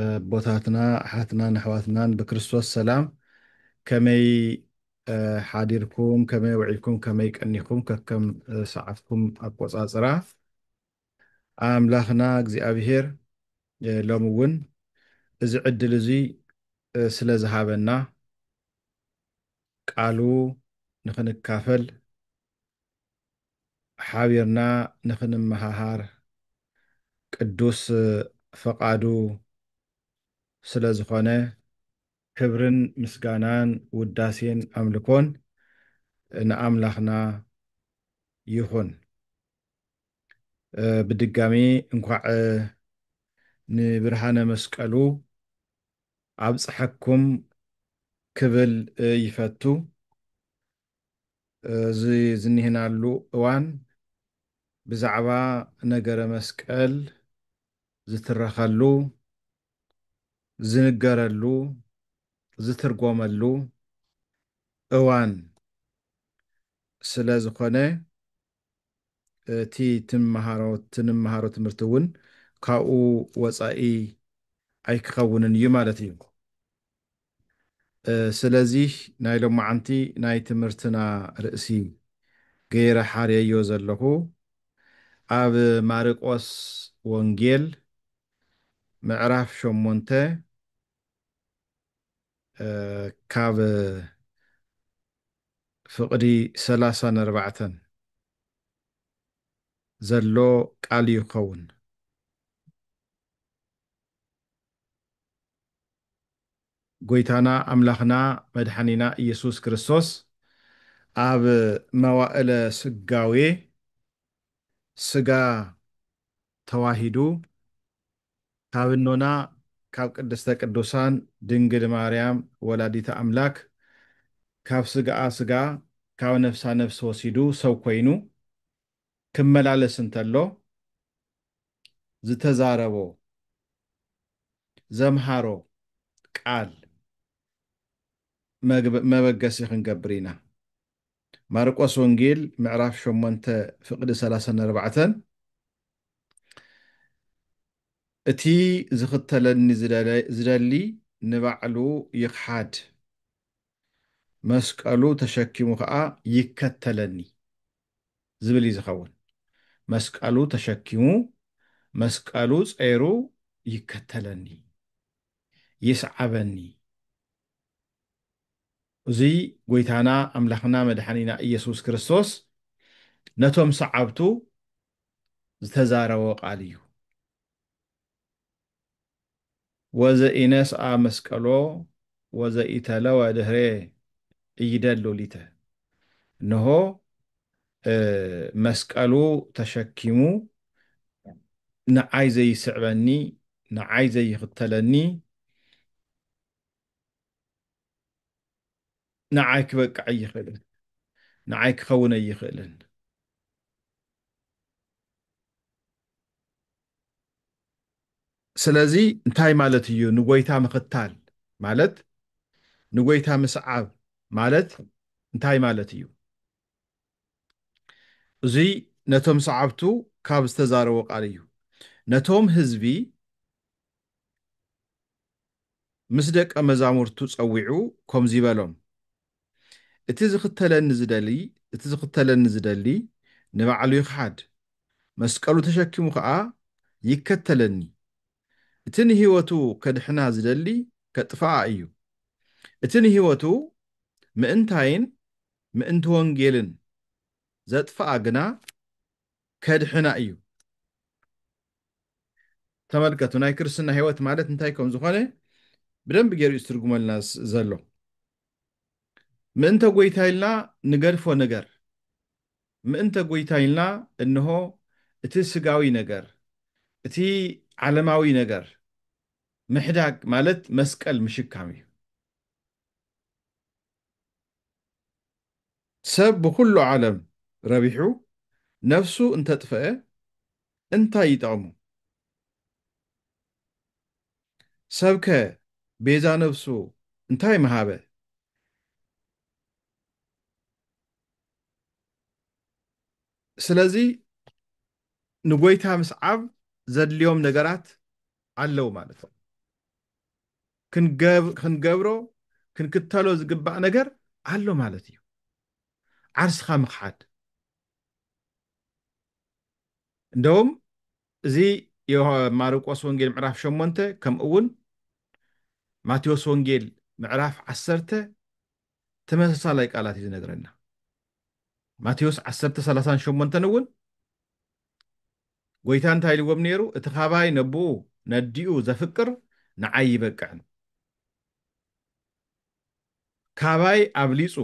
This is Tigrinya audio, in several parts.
ኣቦታትና ኣሓትናን ኣሕዋትናን ብክርስቶስ ሰላም ከመይ ሓዲርኩም ከመይ ውዒልኩም ከመይ ቀኒኩም ከከም ሰዓትኩም ኣቆጻጽራ ኣምላኽና እግዚኣብሄር ሎሚ እውን እዚ ዕድል እዙይ ስለ ዝሃበና ቃሉ ንክንካፈል ሓቢርና ንኽንመሃሃር ቅዱስ ፈቓዱ ስለ ዝኾነ፣ ክብርን ምስጋናን ውዳሴን ኣምልኮን ንኣምላኽና ይኹን። ብድጋሚ እንኳዕ ንብርሃነ መስቀሉ ኣብፀሐኩም ክብል ይፈቱ። እዚ ዝኒህናሉ እዋን ብዛዕባ ነገረ መስቀል ዝትረኸሉ፣ ዝንገረሉ፣ ዝትርጎመሉ እዋን ስለዝኾነ፣ እቲ ትምሃሮ ትንምሃሮ ትምህርቲ እውን ካብኡ ወፃኢ ኣይክኸውንን እዩ ማለት እዩ። ስለዚ ናይ ሎማዓንቲ ናይ ትምህርትና ርእሲ ገይረ ሓርየዮ ዘለኹ ኣብ ማርቆስ ወንጌል ምዕራፍ ሸሞንተ ካብ ፍቕዲ ሰላሳ ነርባዕተን ዘሎ ቃል እዩ ክኸውን። ጎይታና ኣምላኽና መድሓኒና ኢየሱስ ክርስቶስ ኣብ መዋእለ ስጋዌ ስጋ ተዋሂዱ ካብ እኖና ካብ ቅድስተ ቅዱሳን ድንግል ማርያም ወላዲተ ኣምላክ ካብ ስጋኣ ስጋ ካብ ነፍሳ ነፍሲ ወሲዱ ሰብ ኮይኑ ክመላለስ እንተሎ ዝተዛረቦ ዘምሃሮ ቃል መበገሲ ክንገብር ኢና። ማርቆስ ወንጌል ምዕራፍ ሸሞንተ ፍቅዲ ሰላሳን ኣርባዕተን እቲ ዝኽተለኒ ዝደሊ ንባዕሉ ይኽሓድ መስቀሉ ተሸኪሙ ከዓ ይከተለኒ ዝብል እዩ ዝኸውን። መስቀሉ ተሸኪሙ መስቀሉ ፀይሩ ይከተለኒ ይስዓበኒ እዙይ ጐይታና ኣምላኽና መድሓኒና እየሱስ ክርስቶስ ነቶም ሰዓብቱ ዝተዛረቦ ቃል እዩ። ወዘኢነስኣ መስቀሎ ወዘኢተለወ ድህሬ እይደሉ ሊተ እንሆ መስቀሉ ተሸኪሙ ንዓይ ዘይስዕበኒ ንዓይ ዘይኽተለኒ ንዓይ ክበቅዕ ኣይኽእልን፣ ንዓይ ክኸውን ኣይኽእልን። ስለዚ እንታይ ማለት እዩ ንጎይታ ምኽታል ማለት ንጎይታ ምስዓብ ማለት እንታይ ማለት እዩ? እዙይ ነቶም ሰዓብቱ ካብ ዝተዛረቦ ቃል እዩ። ነቶም ህዝቢ ምስ ደቀ መዛሙርቱ ጸዊዑ ኮምዚ በሎም፣ እቲ ዝኽተለኒ ዝደሊ እቲ ዝኽተለኒ ዝደሊ ንባዕሉ ይኽሓድ፣ መስቀሉ ተሸኪሙ ከኣ ይከተለኒ። እቲ ንህይወቱ ከድሕና ዝደሊ ከጥፍኣ እዩ፣ እቲ ንህይወቱ ምእንታይን ምእንቲ ወንጌልን ዘጥፍኣ ግና ከድሕና እዩ። ተመልከቱ ናይ ክርስትና ህይወት ማለት እንታይ ከም ዝኾነ ብደንብ ገይሩ እዩ ዝትርጉመልና ዘሎ። ምእንተ ጎይታ ኢልና ንገድፎ ነገር ምእንተ ጎይታ ኢልና እንሆ እቲ ስጋዊ ነገር እቲ ዓለማዊ ነገር ምሕዳግ ማለት መስቀል ምሽካም እዩ። ሰብ ብኹሉ ዓለም ረቢሑ ነፍሱ እንተጥፈኤ እንታይ ይጠቕሞ? ሰብከ ቤዛ ነፍሱ እንታይ ምሃበ? ስለዚ ንጎይታ ምስዓብ ዘድልዮም ነገራት ኣለው ማለት እዩ። ክንገብሮ ክንክተሎ ዝግባእ ነገር ኣሎ ማለት እዩ ዓርስኻ ምኽሓድ እንደውም እዚ ማርቆስ ወንጌል ምዕራፍ ሸሞንተ ከምኡ እውን ማቴዎስ ወንጌል ምዕራፍ ዓሰርተ ተመሳሳላይ ቃላት እዩ ዝነግረና። ማቴዎስ ዓሰርተ ሰላሳን ሸሞንተን እውን ጎይታ እንታይ ኢልዎም ነይሩ? እቲ ካባይ ነቦኡ ነዲኡ ዘፍቅር ንዓይ ይበቅዕን ካባይ ኣብሊጹ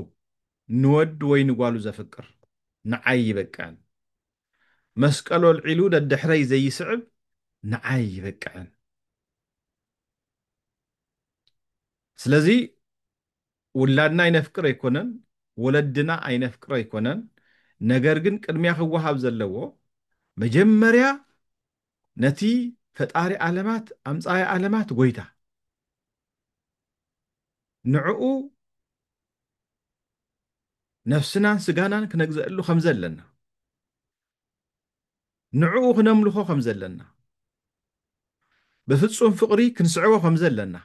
ንወድ ወይ ንጓሉ ዘፍቅር ንዓይ ይበቅዕን መስቀሉ ኣልዒሉ ደድሕረይ ዘይስዕብ ንዓይ ይበቅዕን ስለዚ ውላድና ኣይነፍቅር ኣይኮነን ወለድና ኣይነፍቅር ኣይኮነን ነገር ግን ቅድሚያ ክወሃብ ዘለዎ መጀመርያ ነቲ ፈጣሪ ኣለማት ኣምጻኢ ኣለማት ጎይታ ንዕኡ ነፍስናን ስጋናን ክነግዘእሉ ከምዘለና ንዕኡ ክነምልኾ ከም ዘለና፣ ብፍጹም ፍቕሪ ክንስዕቦ ከም ዘለና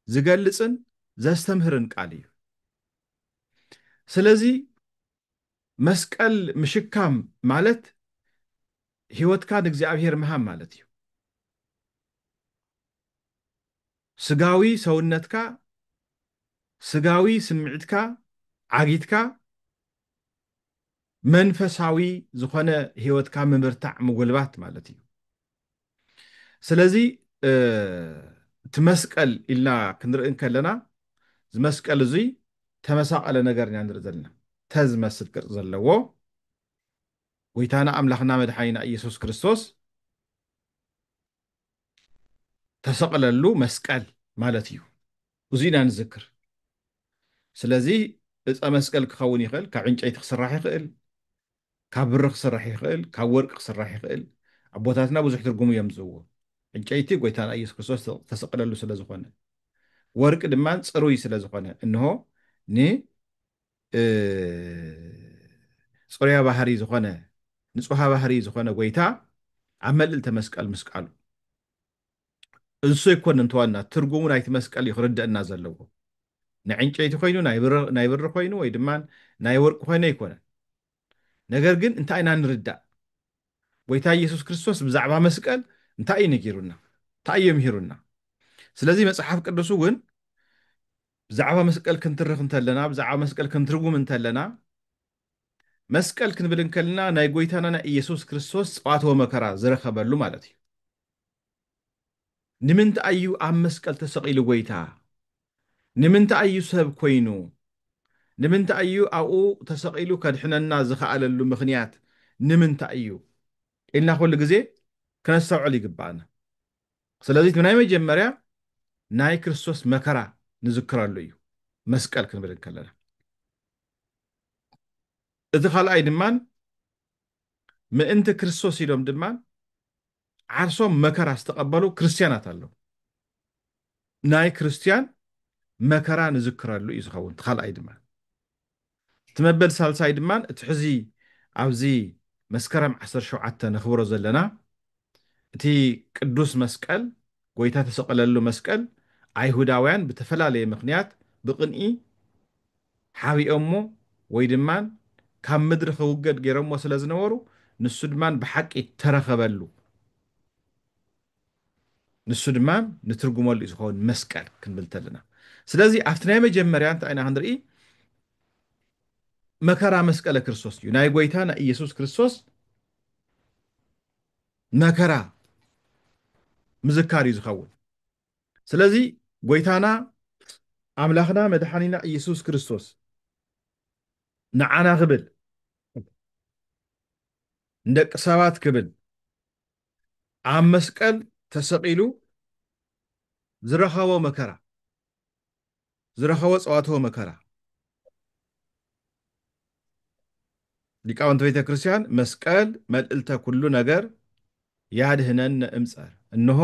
ዝገልጽን ዘስተምህርን ቃል እዩ። ስለዚ መስቀል ምሽካም ማለት ሕይወትካ ንእግዚኣብሔር ምሃብ ማለት እዩ። ስጋዊ ሰውነትካ፣ ስጋዊ ስምዒትካ ዓጊትካ መንፈሳዊ ዝኾነ ህይወትካ ምብርታዕ ምጉልባት ማለት እዩ ስለዚ እቲ መስቀል ኢልና ክንርኢ ከለና እዚ መስቀል እዙይ ተመሳቀለ ነገር ኢና ንርኢ ዘለና ተዝመስል ቅርፂ ዘለዎ ጎይታና ኣምላኽና መድሓኒና ኢየሱስ ክርስቶስ ተሰቕለሉ መስቀል ማለት እዩ እዙይ ኢና ንዝክር። ስለዚ እፀ መስቀል ክኸውን ይኽእል፣ ካብ ዕንጨይቲ ክስራሕ ይኽእል፣ ካብ ብሪ ክስራሕ ይኽእል፣ ካብ ወርቂ ክስራሕ ይኽእል፣ ኣቦታትና ብዙሕ ትርጉም እዮም ዝህብዎ። ዕንጨይቲ ጎይታና ኢየሱስ ክርስቶስ ዝተሰቀለሉ ስለ ዝኾነ፣ ወርቂ ድማ ፅሩይ ስለ ዝኾነ፣ እንሆ ን ፅሩያ ባህሪ ዝኾነ ንፁሃ ባህሪ ዝኾነ ጎይታ ኣብ መልእልተ መስቀል ምስቃሉ። እሱ ኣይኮነን ተዋና ትርጉሙ ናይቲ መስቀል እዩ ክርደእና ዘለዎ ናይ ዕንጨይቲ ኮይኑ ናይ ብሪ ኮይኑ ወይ ድማ ናይ ወርቂ ኮይኑ ኣይኮነን ነገር ግን እንታይ ኢና ንርዳእ ጎይታ ኢየሱስ ክርስቶስ ብዛዕባ መስቀል እንታይ እዩ ነጊሩና እንታይ እዩ ምሂሩና ስለዚ መጽሓፍ ቅዱስ እውን ብዛዕባ መስቀል ክንትርኽ እንተለና ብዛዕባ መስቀል ክንትርጉም እንተለና መስቀል ክንብል እንከልና ናይ ጎይታና ናይ ኢየሱስ ክርስቶስ ጸዋተወ መከራ ዝረኸበሉ ማለት እዩ ንምንታይ እዩ ኣብ መስቀል ተሰቂሉ ጎይታ ንምንታይ እዩ ሰብ ኮይኑ ንምንታይ እዩ ኣብኡ ተሰቂሉ ከድሕነና ዝኸኣለሉ ምኽንያት ንምንታይ እዩ ኢልና ኩሉ ግዜ ክነስተውዕል ይግባኣና ስለዚ ናይ መጀመርያ ናይ ክርስቶስ መከራ ንዝክረሉ እዩ መስቀል ክንብል እንከለና እቲ ካልኣይ ድማ ምእንቲ ክርስቶስ ኢሎም ድማ ዓርሶም መከራ ዝተቐበሉ ክርስትያናት ኣለዉ። ናይ ክርስትያን መከራ ንዝክረሉ እዩ ዝኸውን። እቲ ካልኣይ ድማ እቲ መበል ሳልሳይ ድማ እቲ ሕዚ ኣብዚ መስከረም ዓሰርተ ሸውዓተ ነኽብሮ ዘለና እቲ ቅዱስ መስቀል፣ ጎይታ እተሰቐለሉ መስቀል፣ ኣይሁዳውያን ብተፈላለየ ምኽንያት ብቕንኢ ሓቢኦሞ ወይ ድማ ካብ ምድሪ ክውገድ ገይሮሞ ስለ ዝነበሩ ንሱ ድማ ብሓቂ እተረኸበሉ ንሱ ድማ ንትርጉመሉ እዩ ዝኸውን መስቀል ክንብል ተለና ስለዚ ኣብቲ ናይ መጀመርያ እንታይ ኢና ክንርኢ መከራ መስቀለ ክርስቶስ እዩ ናይ ጎይታና ኢየሱስ ክርስቶስ መከራ ምዝካር እዩ ዝኸውን ስለዚ ጎይታና ኣምላኽና መድሓኒና እየሱስ ክርስቶስ ንዓና ክብል ንደቂ ሰባት ክብል ኣብ መስቀል ተሰቒሉ ዝረኸቦ መከራ ዝረኸቦ ጸዋትወ መከራ። ሊቃውንት ቤተ ክርስቲያን መስቀል መልእልተ ኩሉ ነገር ያድኅነነ እምጸር እንሆ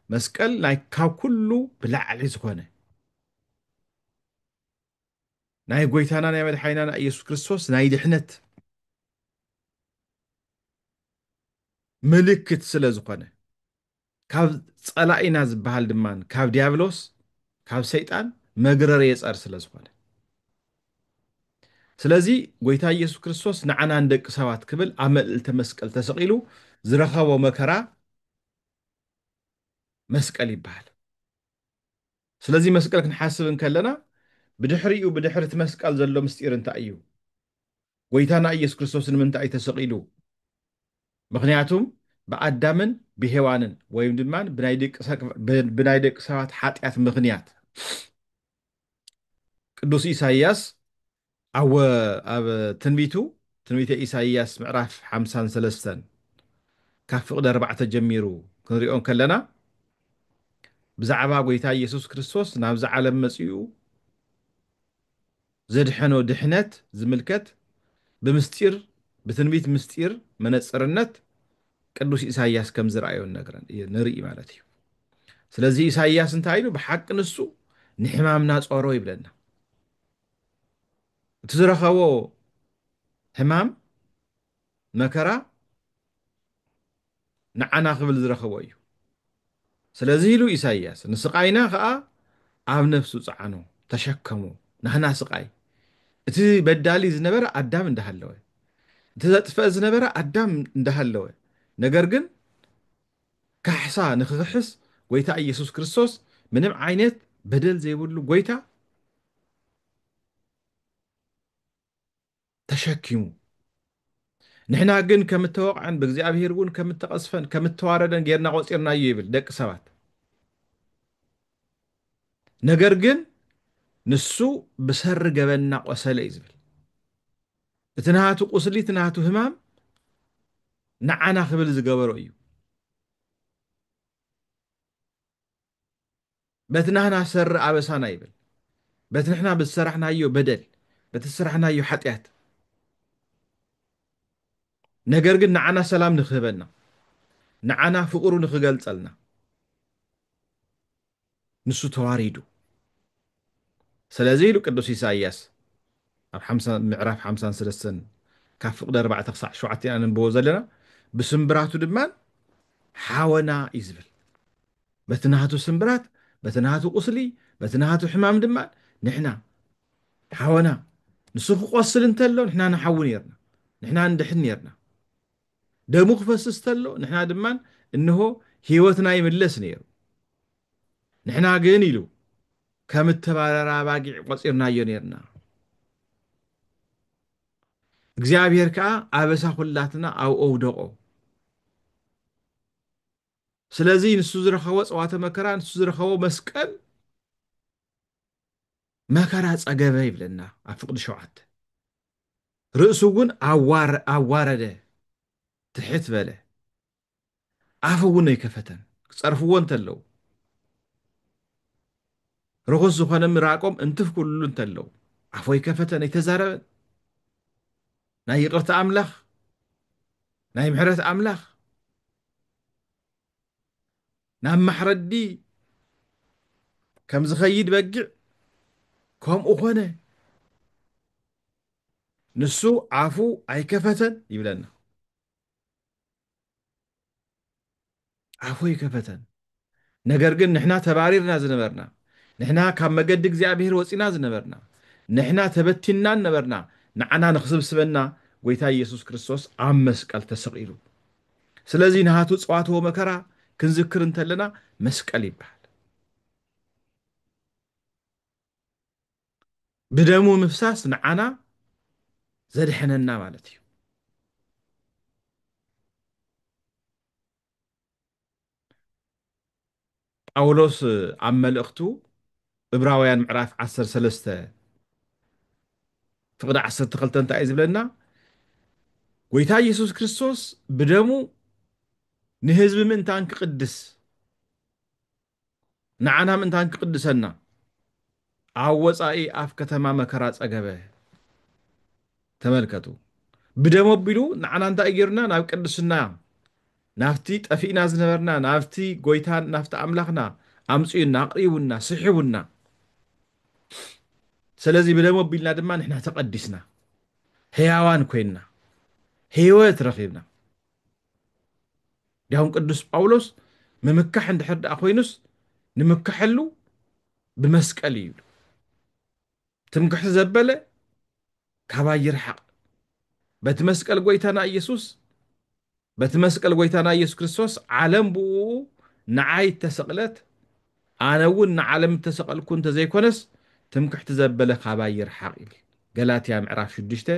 መስቀል ናይ ካብ ኩሉ ብላዕሊ ዝኾነ ናይ ጎይታና ናይ መድሓኒና ናይ ኢየሱስ ክርስቶስ ናይ ድኅነት ምልክት ስለ ዝኾነ ካብ ጸላኢና ዝበሃል ድማ ካብ ዲያብሎስ ካብ ሰይጣን መግረር የጸር ስለ ዝኾነ ስለዚ ጎይታ ኢየሱስ ክርስቶስ ንዓና ንደቂ ሰባት ክብል ኣብ መልእልተ መስቀል ተሰቒሉ ዝረኸቦ መከራ መስቀል ይበሃል። ስለዚ መስቀል ክንሓስብ እንከለና ብድሕሪኡ ብድሕሪ እቲ መስቀል ዘሎ ምስጢር እንታይ እዩ? ጎይታና ኢየሱስ ክርስቶስ ንምንታይ እዩ ተሰቒሉ? ምኽንያቱም ብኣዳምን ብሔዋንን ወይም ድማ ብናይ ደቂ ሰባት ሓጢኣት ምኽንያት ቅዱስ ኢሳይያስ ኣወ ኣብ ትንቢቱ ትንቢተ ኢሳይያስ ምዕራፍ ሓምሳን ሰለስተን ካብ ፍቕዲ ኣርባዕተ ጀሚሩ ክንሪኦ እንከለና ብዛዕባ ጎይታ ኢየሱስ ክርስቶስ ናብዛ ዓለም መጺኡ ዘድሐኖ ድሕነት ዝምልከት ብምስጢር ብትንቢት ምስጢር መነጽርነት ቅዱስ ኢሳይያስ ከም ዝረኣዮ ንርኢ ማለት እዩ ስለዚ ኢሳይያስ እንታይ ኢሉ ብሓቂ ንሱ ንሕማምና ጾሮ ይብለና እቲ ዝረኸቦ ሕማም መከራ ንዓና ክብል ዝረኸቦ እዩ ስለዚ ኢሉ ኢሳይያስ ንስቃይና ከኣ ኣብ ነፍሱ ጸዓኖ ተሸከሞ ናህና ስቃይ እቲ በዳሊ ዝነበረ ኣዳም እንዳሃለወ እቲ ዘጥፍእ ዝነበረ ኣዳም እንዳሃለወ ነገር ግን ካሕሳ ንክክሕስ ጎይታ ኢየሱስ ክርስቶስ ምንም ዓይነት በደል ዘይብሉ ጎይታ ተሸኪሙ ንሕና ግን ከም እተወቕዐን ብእግዚኣብሔር እውን ከም እተቐስፈን ከም እተዋረደን ጌርና ቆፂርናዮ ይብል ደቂ ሰባት ነገር ግን ንሱ ብሰሪ ገበንና ቆሰለ እዩ ዝብል እቲ ናቱ ቁስሊ እቲ ናቱ ህማም ንዓና ክብል ዝገበሮ እዩ በቲ ናህና ሰሪ ኣበሳና ይብል በቲ ንሕና ብዝሰራሕናዮ በደል በቲ ዝሰራሕናዮ ሓጢኣት ነገር ግን ንዓና ሰላም ንክህበና ንዓና ፍቅሩ ንክገልጸልና ንሱ ተዋሪዱ ስለዚ ኢሉ ቅዱስ ኢሳይያስ ኣብ ምዕራፍ ሓምሳን ሰለስተን ካብ ፍቕዲ ኣርባዕተ ክሳዕ ሸውዓተ ኢና ነንብቦ ዘለና ብስምብራቱ ድማ ሓወና እዩ ዝብል በቲ ናቱ ስምብራት በቲ ናቱ ቁስሊ በቲ ናቱ ሕማም ድማ ንሕና ሓወና ንሱ ክቆስል እንተሎ ንሕና ንሓዊ ነርና ንሕና ንድሕን ነርና ደሙ ክፈስስ ተሎ ንሕና ድማ እንሆ ህይወትና ይምለስ ነይሩ። ንሕና ግን ኢሉ ከም እተባረራ ኣባጊዕ ቆጺርናዮ ነርና። እግዚኣብሔር ከዓ ኣበሳ ኩላትና ኣብኡ ኣውደቆ። ስለዚ ንሱ ዝረኸቦ ጸዋተ መከራ፣ ንሱ ዝረኸቦ መስቀል መከራ ጸገበ ይብለና ኣብ ፍቅዲ ሸውዓተ። ርእሱ እውን ኣዋረደ ትሕት በለ ኣፉ እውን ኣይከፈተን ክጸርፍዎ እንተለው ርኹስ ዝኾነ ምራቆም እንትፍ ክብልሉ እንተለው ኣፉ ኣይከፈተን ኣይተዛረበን ናይ ይቅርታ ኣምላኽ ናይ ምሕረት ኣምላኽ ናብ ማሕረዲ ከም ዝኸይድ በጊዕ ከምኡ ኮነ። ንሱ ኣፉ ኣይከፈተን ይብለና። ኣፉ ኣይከፈተን። ነገር ግን ንሕና ተባሪርና ዝነበርና ንሕና ካብ መገዲ እግዚኣብሄር ወፂና ዝነበርና ንሕና ተበቲንናን ነበርና ንዓና ንክስብስበና ጎይታ ኢየሱስ ክርስቶስ ኣብ መስቀል ተሰቒሉ ስለዚ ናቱ ጸዋትወ መከራ ክንዝክር እንተለና መስቀል ይበሃል። ብደሙ ምፍሳስ ንዓና ዘድሐነና ማለት እዩ። ጳውሎስ ኣብ መልእኽቱ እብራውያን ምዕራፍ ዓሰርተ ሰለስተ ፍቕዲ ዓሰርተ ክልተ እንታይ እዩ ዝብለና? ጎይታ ኢየሱስ ክርስቶስ ብደሙ ንህዝቢ ምእንታን ክቕድስ ንዓና ምእንታን ክቕድሰና ኣብ ወጻኢ ኣፍ ከተማ መከራ ጸገበ። ተመልከቱ። ብደም ኣቢሉ ንዓና እንታይ ጌሩና ናብ ቅድስና ናብቲ ጠፊእና ዝነበርና ናብቲ ጎይታን ናብቲ ኣምላኽና ኣምጽኡና ኣቕሪቡና ስሒቡና ስለዚ ብደም ኣቢልና ድማ ንሕና ተቐዲስና ህያዋን ኮይንና ህይወት ረኺብና እንዲያውም ቅዱስ ጳውሎስ ምምካሕ እንድሕር ደኣ ኮይኑስ ንምከሐሉ ብመስቀል እዩ ይብሉ ትምክሕቲ ዘበለ ካባይ ይርሓቕ በቲ መስቀል ጎይታና ኢየሱስ በቲ መስቀል ጎይታና ኢየሱስ ክርስቶስ ዓለም ብኡ ንዓይ እተሰቕለት ኣነ እውን ንዓለም እተሰቐልኩ እንተዘይኮነስ ትምክሕቲ ዘበለ ካባይ ይርሓቕ ይብል ገላትያ ምዕራፍ 6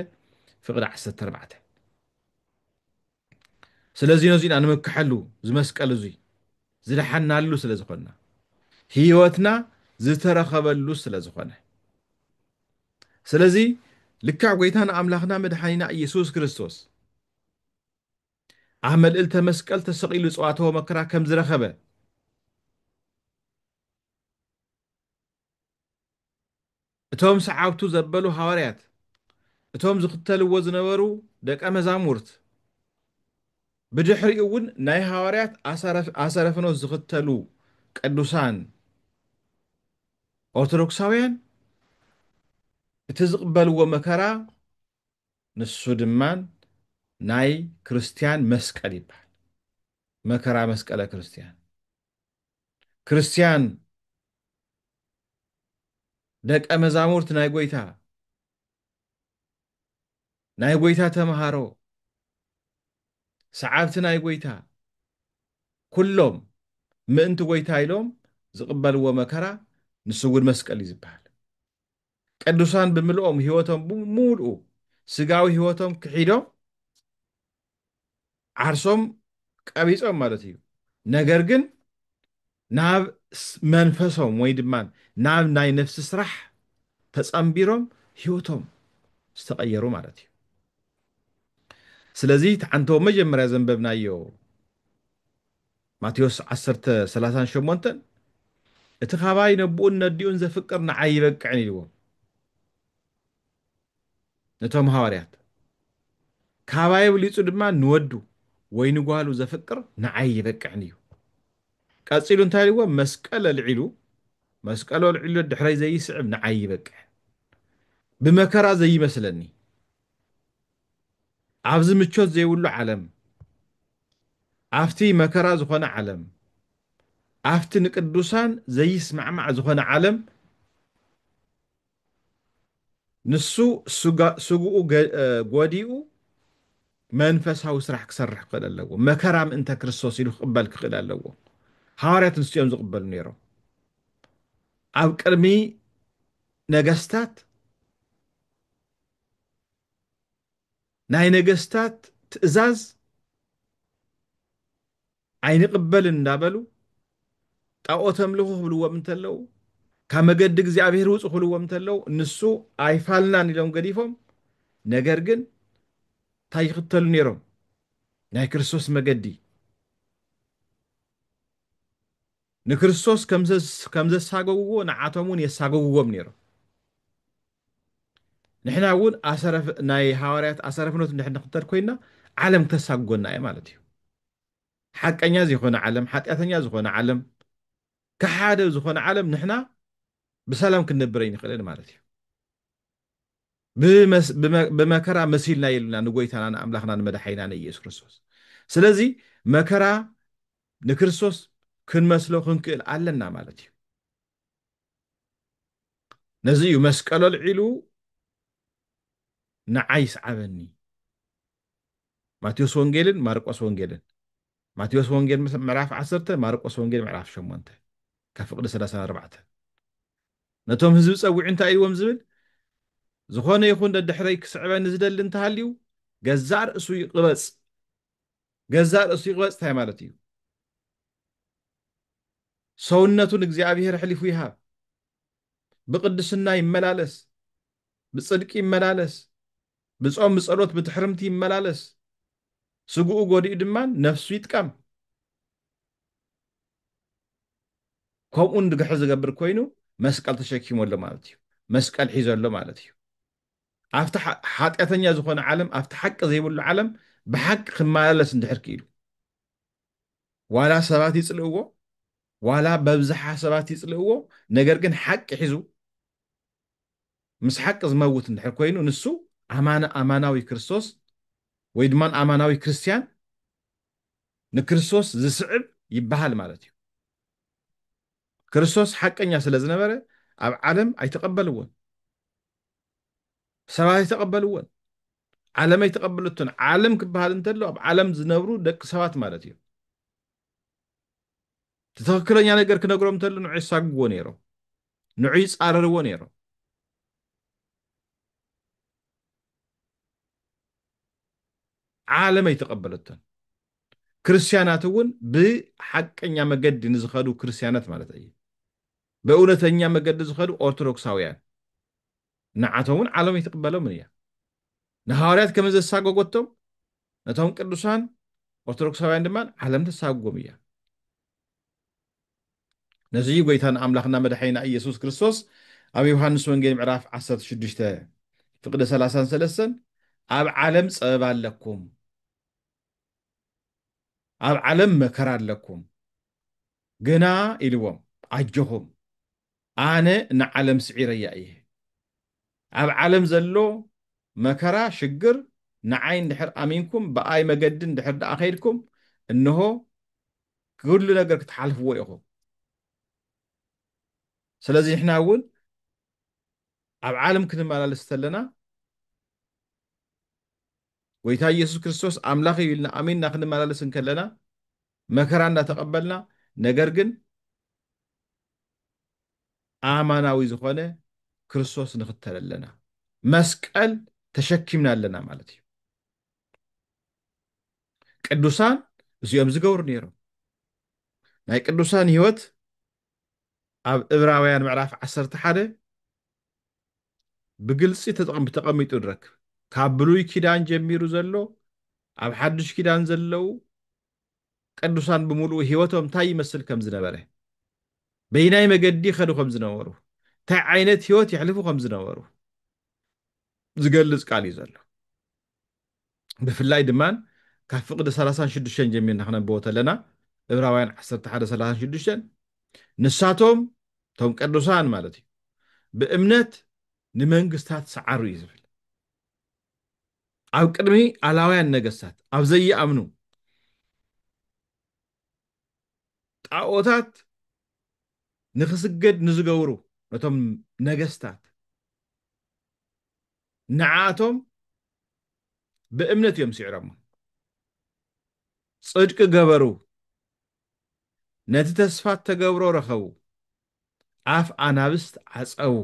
ፍቕዲ 14 ስለዚ ነዙይ ኢና ንምክሐሉ ዝመስቀል እዙይ ዝደሓናሉ ስለ ዝኾንና ህይወትና ዝተረኸበሉ ስለ ዝኾነ ስለዚ ልክዕ ጎይታና ኣምላኽና መድሓኒና ኢየሱስ ክርስቶስ ኣብ መልእልተ መስቀል ተሰቒሉ ጸዋተወ መከራ ከም ዝረኸበ እቶም ሰዓብቱ ዘበሉ ሃዋርያት፣ እቶም ዝኽተልዎ ዝነበሩ ደቀ መዛሙርት፣ ብድሕሪኡ እውን ናይ ሃዋርያት ኣሰረ ፍኖት ዝኽተሉ ቅዱሳን ኦርቶዶክሳውያን፣ እቲ ዝቕበልዎ መከራ ንሱ ድማ ናይ ክርስትያን መስቀል ይበሃል። መከራ መስቀለ ክርስትያን። ክርስትያን ደቀ መዛሙርት ናይ ጎይታ ናይ ጎይታ ተምሃሮ ሰዓብቲ ናይ ጎይታ ኩሎም ምእንቲ ጎይታ ኢሎም ዝቕበልዎ መከራ ንሱ እውን መስቀል እዩ ዝበሃል ቅዱሳን ብምልኦም ህይወቶም ብምሉኡ ስጋዊ ህይወቶም ክሒዶም ዓርሶም ቀቢጾም ማለት እዩ ነገር ግን ናብ መንፈሶም ወይ ድማ ናብ ናይ ነፍሲ ስራሕ ተጸምቢሮም ህይወቶም ዝተቐየሩ ማለት እዩ ስለዚ ተዓንቶ መጀመርያ ዘንበብናዮ ማቴዎስ 1038 እቲ ካባይ ነብኡን ነዲኡን ዘፍቅር ንዓይ ይበቅዕን ኢልዎም ነቶም ሃዋርያት። ካባይ ኣብሊጹ ድማ ንወዱ ወይ ንጓሉ ዘፍቅር ንዓይ ይበቅዕኒ እዩ። ቀጺሉ እንታይ ኢልዎም መስቀል ኣልዒሉ መስቀሉ ኣልዒሉ ደድሕረይ ዘይስዕብ ንዓይ ይበቅዕን ብመከራ ዘይመስለኒ ኣብዚ ምቾት ዘይብሉ ዓለም ኣብቲ መከራ ዝኾነ ዓለም ኣብቲ ንቅዱሳን ዘይስማዕማዕ ዝኾነ ዓለም ንሱ ስግኡ ጎዲኡ መንፈሳዊ ስራሕ ክሰርሕ ክኽእል ኣለዎ። መከራ ምእንተ ክርስቶስ ኢሉ ክቕበል ክኽእል ኣለዎ። ሃዋርያት ንሱ እዮም ዝቕበሉ ነይሮም። ኣብ ቅድሚ ነገስታት ናይ ነገስታት ትእዛዝ ኣይንቕበልን እንዳበሉ ጣኦት ኣምልኹ ክብልዎም እንተለው ካብ መገዲ እግዚኣብሔር ውፁ ክብልዎም እንተለው ንሱ ኣይፋልናን ኢሎም ገዲፎም ነገር ግን እንታይ ይኽተሉ ነይሮም ናይ ክርስቶስ መገዲ ንክርስቶስ ከም ዘሳገግዎ ንዓቶም እውን የሳገግዎም ነይሮም ንሕና እውን ናይ ሃዋርያት ኣሰረፍኖት እንድሕር ንኽተል ኮይና ዓለም ክተሳግጎና እየ ማለት እዩ ሓቀኛ ዘይኮነ ዓለም ሓጢኣተኛ ዝኾነ ዓለም ከሓደ ዝኾነ ዓለም ንሕና ብሰላም ክንነብር ኣይንኽእልን ማለት እዩ ብመከራ መሲልና የሉና ንጎይታና ንኣምላኽና ንመድሓይና ንኢየሱስ ክርስቶስ ስለዚ መከራ ንክርስቶስ ክንመስሎ ክንክእል ኣለና ማለት እዩ ነዚ እዩ መስቀሎ ልዒሉ ንዓይ ስዓበኒ ማቴዎስ ወንጌልን ማርቆስ ወንጌልን ማቴዎስ ወንጌል ምዕራፍ ዓሰርተ ማርቆስ ወንጌል ምዕራፍ ሸሞንተ ካብ ፍቕዲ ሰላሳን ኣርባዕተን ነቶም ህዝቢ ጸዊዑ እንታይ ኢዎም ዝብል ዝኾነ ይኹን ደድሕረይ ክስዕበኒ ዝደሊ እንተሃልዩ ገዛእ ርእሱ ይቕበጽ ገዛእ ርእሱ ይቕበጽ እንታይ ማለት እዩ ሰውነቱ ንእግዚኣብሄር ኣሕሊፉ ይሃብ ብቅድስና ይመላለስ ብጽድቂ ይመላለስ ብጾም ብጸሎት ብትሕርምቲ ይመላለስ ስግኡ ጎዲኡ ድማ ነፍሱ ይጥቀም ከምኡ ንድግሕር ዝገብር ኮይኑ መስቀል ተሸኪሙ ኣሎ ማለት እዩ መስቀል ሒዘ ኣሎ ማለት እዩ ኣብቲ ሓጢኣተኛ ዝኾነ ዓለም ኣብቲ ሓቂ ዘይብሉ ዓለም ብሓቂ ክመላለስ እንድሕር ክኢሉ ዋላ ሰባት ይፅልእዎ ዋላ በብዝሓ ሰባት ይጽልእዎ ነገር ግን ሓቂ ሒዙ ምስ ሓቂ ዝመውት እንድሕር ኮይኑ ንሱ ኣማን ኣማናዊ ክርስቶስ ወይ ድማ ኣማናዊ ክርስትያን ንክርስቶስ ዝስዕብ ይበሃል ማለት እዩ። ክርስቶስ ሓቀኛ ስለ ዝነበረ ኣብ ዓለም ኣይተቐበልዎን፣ ሰባት ኣይተቐበልዎን፣ ዓለም ኣይተቐበለቶን። ዓለም ክበሃል እንተሎ ኣብ ዓለም ዝነብሩ ደቂ ሰባት ማለት እዩ። እቲ ትኽክለኛ ነገር ክነግሮም እንተሉ ንዑ የሳግዎ ነይሮም ንዑ ይፃረርዎ ነይሮም ዓለም ኣይተቐበለቶን ክርስቲያናት እውን ብሓቀኛ መገዲ ንዝኸዱ ክርስቲያናት ማለት እዩ ብእውነተኛ መገዲ ዝኸዱ ኦርቶዶክሳውያን ንዓቶም እውን ዓለም ኣይትቕበሎምን እያ። ንሃዋርያት ከመ ዘሳጎጎቶም ነቶም ቅዱሳን ኦርቶዶክሳውያን ድማ ዓለም ተሳጉጎም እያ። ነዚ እዩ ጎይታና ኣምላኽና መድሓኒና ኢየሱስ ክርስቶስ ኣብ ዮሃንስ ወንጌል ምዕራፍ 16 ፍቅደ 33 ኣብ ዓለም ጸበባ ኣለኩም ኣብ ዓለም መከራ ኣለኩም ግና ኢልዎም ኣጆኹም ኣነ ንዓለም ስዒረያ እየ። ኣብ ዓለም ዘሎ መከራ፣ ሽግር፣ ንዓይ እንድሕር ኣሚንኩም ብኣይ መገዲ እንድሕር ደኣ ከይድኩም እንሆ ኩሉ ነገር ክትሓልፍዎ ኢኹም። ስለዚ ንሕና እውን ኣብ ዓለም ክንመላለስ ተለና ጎይታ ኢየሱስ ክርስቶስ ኣምላኽ እዩ ኢልና ኣሚንና ክንመላለስ እንከለና መከራ እንዳተቐበልና ነገር ግን ኣማናዊ ዝኾነ ክርስቶስ ንኽተል ኣለና። መስቀል ተሸኪምና ኣለና ማለት እዩ። ቅዱሳን እዚኦም ዝገብሩ ነይሮም። ናይ ቅዱሳን ህይወት ኣብ እብራውያን ምዕራፍ ዓሰርተ ሓደ ብግልፂ ተቐሚጡ ንረክብ ካብ ብሉይ ኪዳን ጀሚሩ ዘሎ ኣብ ሓዱሽ ኪዳን ዘለው ቅዱሳን ብምሉኡ ሕይወቶም እንታይ ይመስል ከም ዝነበረ፣ በይናይ መገዲ ይኸዱ ከም ዝነበሩ፣ እንታይ ዓይነት ሕይወት የሕልፉ ከም ዝነበሩ ዝገልጽ ቃል እዩ ዘሎ። ብፍላይ ድማ ካብ ፍቕዲ ሰላሳን ሽዱሽተን ጀሚርና ክነንብቦ ተለና እብራውያን ዓሰርተ ሓደ ሰላሳን ሽዱሽተን ንሳቶም እቶም ቅዱሳን ማለት እዩ ብእምነት ንመንግስታት ሰዓሩ እዩ ዝብል። ኣብ ቅድሚ ኣላውያን ነገስታት ኣብ ዘይኣምኑ ጣኦታት ንኽስገድ ንዝገብሩ ነቶም ነገስታት ንዓኣቶም ብእምነት እዮም ስዒሮሞ ጽድቂ ገበሩ ነቲ ተስፋ እተገብሮ ረኸቡ ኣፍ ኣናብስት ዓጸዉ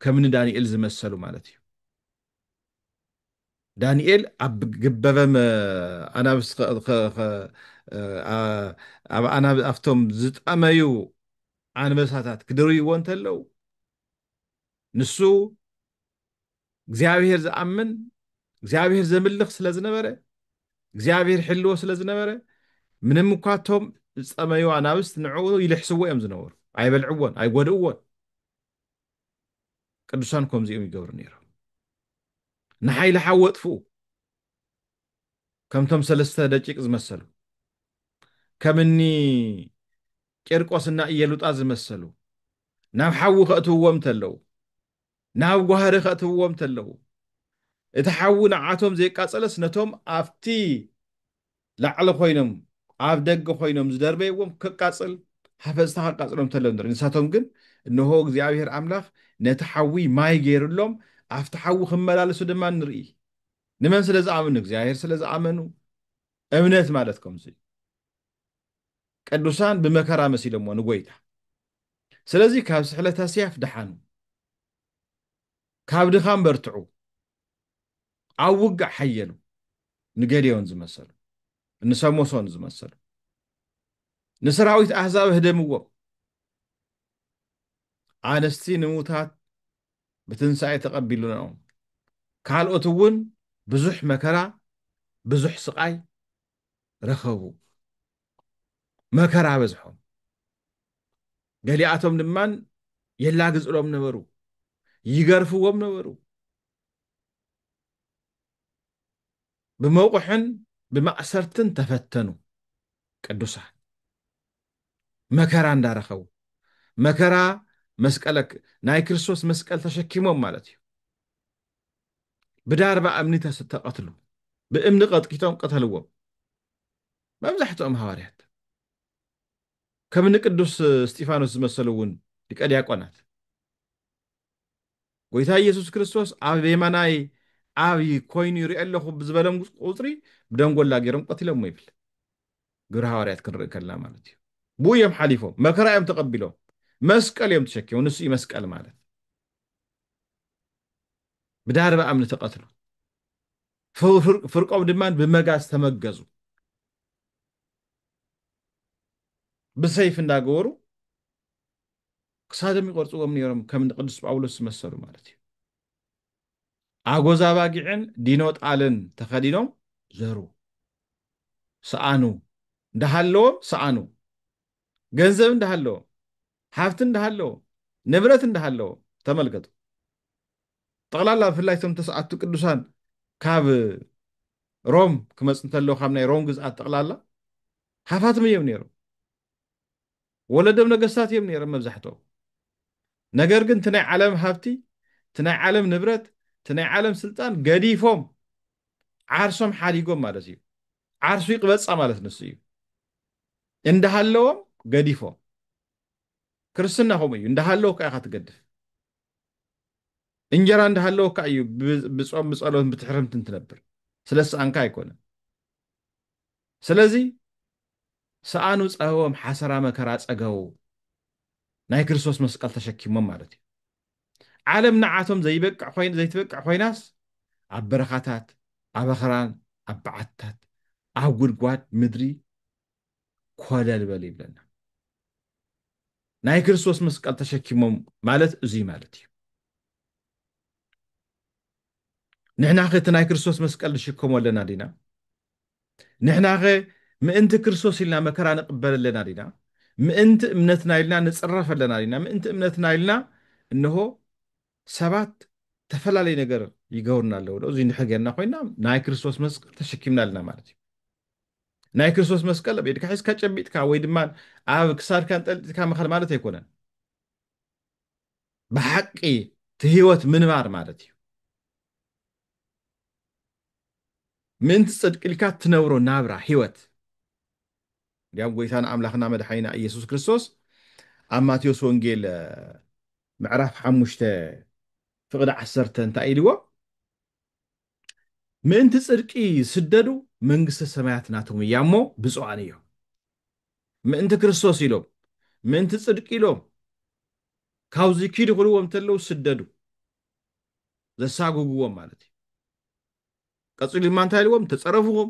ከም ንዳንኤል ዝመሰሉ ማለት እዩ ዳንኤል ኣብ ግበበም ኣናብስ ከ- ከ- ከ- ኣ- ኣብ ኣናብ- ኣብቶም ዝጠመዩ ኣንበሳታት ክድርይዎ እንተለው ንሱ እግዚኣብሔር ዝኣምን እግዚኣብሔር ዘምልኽ ስለ ዝነበረ እግዚኣብሔር ሕልዎ ስለ ዝነበረ ምንም እኳ እቶም ዝጠመዩ ኣናብስት ንዕኡ ይልሕስዎ እዮም ዝነበሩ ኣይበልዕዎን ኣይጎድእዎን ቅዱሳን ከምዚኦም ይገብሩ ነይሮም ንሓይሊ ሓዊ ኣጥፍኡ ከምቶም ሰለስተ ደቂቅ ዝመሰሉ ከምኒ ቂርቆስ እና እየሉጣ ዝመሰሉ ናብ ሓዊ ከእትውዎም እንተለዉ ናብ ጓህሪ ከእትውዎም እንተለዉ እቲ ሓዊ ንዓቶም ዘይቃፀለስ ነቶም ኣብቲ ላዕሊ ኮይኖም ኣብ ደገ ኮይኖም ዝደርበይዎም ከቃጽል ሃፈጽታ ከቃጽሎም ተሎ ንርኢ ንሳቶም ግን እንሆ እግዚኣብሄር ኣምላኽ ነቲ ሓዊ ማይ ገይርሎም ኣብቲ ሓዊ ክመላለሱ ድማ ንርኢ ንመን ስለ ዝኣምኑ ንእግዚኣብሄር ስለ ዝኣመኑ እምነት ማለት ከምዚ እዩ ቅዱሳን ብመከራ መሲሎሞ ንጎይታ ስለዚ ካብ ስሕለት ኣስያፍ ደሓኑ ካብ ድኻም በርትዑ ኣብ ውግእ ሓየሉ ንገዴዎን ዝመሰሉ ንሰሞሶን ዝመሰሉ ንሰራዊት ኣህዛብ ህደምዎ ኣንስቲ ንሙታት ብትንሳኤ ተቐቢሉናኦም ካልኦት እውን ብዙሕ መከራ ብዙሕ ስቓይ ረኸቡ መከራ በዝሖም ገሊኣቶም ድማ የላግጽሎም ነበሩ፣ ይገርፍዎም ነበሩ። ብመቑሕን ብማእሰርትን ተፈተኑ ቅዱሳን መከራ እንዳረኸቡ መከራ መስቀለ ናይ ክርስቶስ መስቀል ተሸኪሞም ማለት እዩ ብዳርባ እምኒ ተቐትሉ ብእምኒ ቀጥቂጦም ቀተልዎም መብዛሕትኦም ሃዋርያት ከም እኒ ቅዱስ እስጢፋኖስ ዝመሰሉ እውን ሊቀ ዲያቆናት ጎይታ ኢየሱስ ክርስቶስ ኣብ የማናይ ኣብ ኮይኑ ይሪኦ ኣለኹ ብዝበሎም ቁፅሪ ብደንጎላ ገይሮም ቀቲሎሞ ይብል ግብረ ሃዋርያት ክንርኢ ከልና ማለት እዩ ብኡ እዮም ሓሊፎም መከራ እዮም ተቐቢሎም መስቀል እዮም ተሸኪሞም ንሱ እዩ መስቀል ማለት ብዳርባ እምኒ ተቐትሉ ፍርቆም ድማ ብመጋዝ ተመገዙ ብሰይፊ እንዳገበሩ ክሳዶም ይቆርፅዎም ነይሮም ከም ቅዱስ ጳውሎስ ዝመሰሉ ማለት እዩ ኣጎዛ ባጊዕን ዲኖ ጣልን ተኸዲኖም ዘሩ ሰኣኑ እንዳሃለዎም ሰኣኑ ገንዘብ እንዳሃለዎም ሃብቲ እንዳሃለዎም ንብረት እንዳሃለዎም ተመልከቱ ጠቕላላ ብፍላይ እቶም ተስዓቱ ቅዱሳን ካብ ሮም ክመፅ እንተለዉ ካብ ናይ ሮም ግዝኣት ጠቕላላ ሃፋትም እዮም ነይሮም ወለዶም ነገስታት እዮም ነይሮም መብዛሕትኦም ነገር ግን እቲ ናይ ዓለም ሃብቲ እቲ ናይ ዓለም ንብረት እቲ ናይ ዓለም ስልጣን ገዲፎም ዓርሶም ሓዲጎም ማለት እዩ ዓርሱ ይቅበፃ ማለት ንሱ እዩ እንዳሃለዎም ገዲፎም ክርስትና ከምኡ እዩ እንዳሃለዎ ከዓ ኢካ ትገድፍ እንጀራ እንዳሃለወካ እዩ ብጾም ብጸሎት ብትሕርምትን ትነብር ስለሰኣንካ ኣይኮነን ስለዚ ሰኣኑ ጸህቦም ሓሰራ መከራ ጸገቡ ናይ ክርስቶስ መስቀል ተሸኪሞም ማለት እዩ ዓለም ንዓቶም ዘይበቅዕ ኮይን ዘይትበቅዕ ኮይናስ ኣብ በረኻታት ኣብ ኣኽራን ኣብ በዓትታት ኣብ ጉድጓድ ምድሪ ኮለል በሉ ይብለና ናይ ክርስቶስ መስቀል ተሸኪሞም ማለት እዙይ ማለት እዩ ንሕና ኸ እቲ ናይ ክርስቶስ መስቀል ንሽከሞ ኣለና ዲና ንሕና ኸ ምእንቲ ክርስቶስ ኢልና መከራ ንቕበል ኣለና ዲና ምእንቲ እምነትና ኢልና ንፅረፍ ኣለና ዲና ምእንቲ እምነትና ኢልና እንሆ ሰባት ተፈላለዩ ነገር ይገብሩና ኣለዉ ዶ እዙይ እንድሕር ጌርና ኮይና ናይ ክርስቶስ መስቀል ተሸኪምና ኣለና ማለት እዩ ናይ ክርስቶስ መስቀል ኣብ ኢድካ ሒዝካ ጨቢጥካ ወይ ድማ ኣብ ክሳድካ እንጠልጢልካ ምኻድ ማለት ኣይኮነን ብሓቂ እቲ ህይወት ምንባር ማለት እዩ ምእንቲ ፅድቂ ኢልካ እትነብሮ ናብራ ህይወት እንዲያም ጎይታና ኣምላኽና መድሓኒና ኢየሱስ ክርስቶስ ኣብ ማቴዎስ ወንጌል ምዕራፍ ሓሙሽተ ፍቕዲ ዓሰርተ እንታይ ኢልዎ ምእንቲ ጽድቂ ዝስደዱ መንግስተ ሰማያት ናቶም እያ እሞ ብፁዓን እዮም። ምእንቲ ክርስቶስ ኢሎም ምእንቲ ጽድቂ ኢሎም ካብዚ ኪዱ ክብልዎም እንተለዉ ዝስደዱ ዘሳጉግዎም ማለት እዩ። ቀጺሉ ድማ እንታይ ኢልዎም ተጸረፉኹም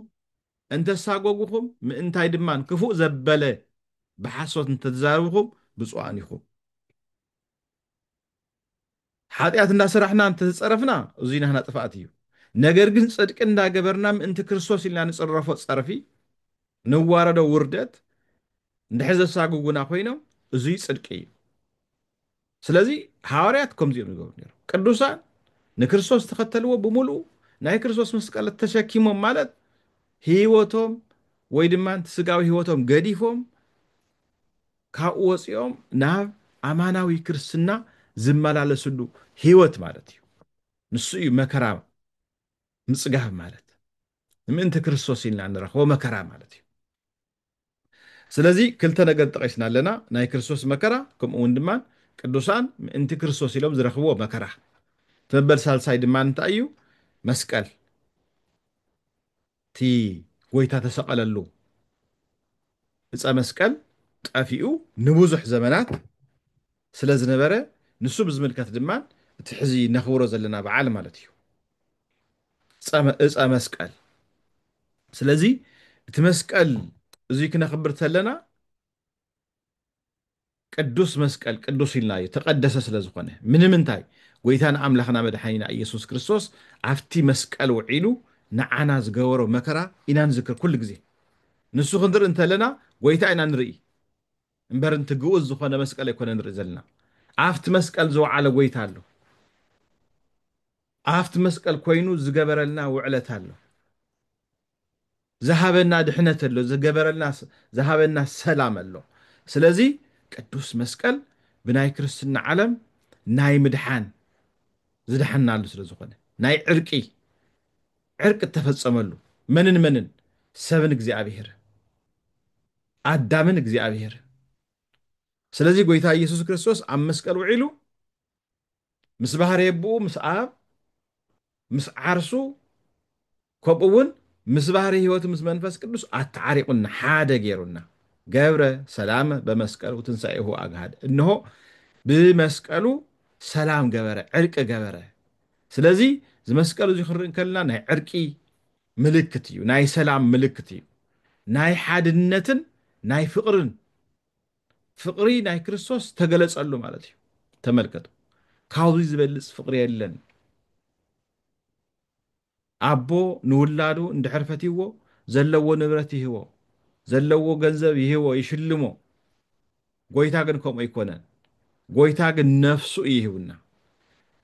እንተሳጎጉኹም ምእንታይ ድማ ክፉእ ዘበለ ብሓሶት እንተተዛረብኹም ብፁዓን ኢኹም። ሓጢኣት እንዳሰራሕና እንተተጸረፍና እዙይ ናህና ጥፍኣት እዩ ነገር ግን ጽድቂ እንዳገበርና ምእንቲ ክርስቶስ ኢልና ንጽረፎ ጸርፊ ንዋረዶ ውርደት እንድሕር ዘሳግጉና ኮይኖም እዙይ ጽድቂ እዩ ስለዚ ሃዋርያት ከምዚ እዮም ዝገብሩ ነይሮም ቅዱሳን ንክርስቶስ ተኸተልዎ ብምልኡ ናይ ክርስቶስ መስቀለት ተሸኪሞም ማለት ህይወቶም ወይ ድማ ስጋዊ ህይወቶም ገዲፎም ካብኡ ወፂኦም ናብ ኣማናዊ ክርስትና ዝመላለስሉ ህይወት ማለት እዩ። ንሱ እዩ መከራ ምፅጋብ ማለት ንምእንቲ ክርስቶስ ኢልና ንረኽቦ መከራ ማለት እዩ። ስለዚ ክልተ ነገር ጠቂስና ኣለና፣ ናይ ክርስቶስ መከራ ከምኡ እውን ድማ ቅዱሳን ምእንቲ ክርስቶስ ኢሎም ዝረኽብዎ መከራ። እቲ መበል ሳልሳይ ድማ እንታይ እዩ? መስቀል። እቲ ጎይታ ተሰቀለሉ እፀ መስቀል ጠፊኡ ንቡዙሕ ዘመናት ስለ ዝነበረ ንሱ ብዝምልከት ድማ እቲ ሕዚ ነኽብሮ ዘለና በዓል ማለት እዩ እፀ መስቀል ስለዚ እቲ መስቀል እዙይ ክነኽብር ተለና ቅዱስ መስቀል ቅዱስ ኢልና ዝተቀደሰ ስለ ዝኾነ ምንምንታይ ጎይታና ኣምላኽና መድሓኒና እየሱስ ክርስቶስ ኣብቲ መስቀል ውዒሉ ንዓና ዝገበሮ መከራ ኢና ንዝክር ኩሉ ግዜ ንሱ ክንርኢ እንተለና ጎይታ ኢና ንርኢ እምበር ንቲ ግኡዝ ዝኾነ መስቀል ኣይኮነ ንርኢ ዘለና ኣብቲ መስቀል ዝወዓለ ጎይታ ኣሎ ኣብቲ መስቀል ኮይኑ ዝገበረልና ውዕለት ኣሎ። ዝሃበና ድሕነት ኣሎ፣ ዝገበረልና ዝሃበና ሰላም ኣሎ። ስለዚ ቅዱስ መስቀል ብናይ ክርስትና ዓለም ናይ ምድሓን ዝደሓንናሉ ስለ ዝኾነ ናይ ዕርቂ ዕርቂ እተፈጸመሉ መንን መንን ሰብን እግዚኣብሔርን ኣዳምን እግዚኣብሔርን ስለዚ ጎይታ ኢየሱስ ክርስቶስ ኣብ መስቀል ውዒሉ ምስ ባህሪ ኣቦኡ ምስ ኣብ ምስ ዓርሱ ከምኡ ውን ምስ ባህሪ ህይወቱ ምስ መንፈስ ቅዱስ ኣተዓሪቑና ሓደ ገይሩና ገብረ ሰላመ በመስቀሉ ትንሳኤሁ ኣግሃድ እንሆ ብመስቀሉ ሰላም ገበረ ዕርቂ ገበረ ስለዚ እዚ መስቀሉ እዚ ክንርኢ ከለና ናይ ዕርቂ ምልክት እዩ ናይ ሰላም ምልክት እዩ ናይ ሓድነትን ናይ ፍቕርን ፍቅሪ ናይ ክርስቶስ ተገለጸሉ ማለት እዩ ተመልከቱ ካብዚ ዝበልጽ ፍቅሪ የለን ኣቦ ንውላዱ እንድሕር ፈትይዎ ዘለዎ ንብረት ይህቦ ዘለዎ ገንዘብ ይህቦ ይሽልሞ ጎይታ ግን ከምኡ ኣይኮነን ጎይታ ግን ነፍሱ እዩ ይህቡና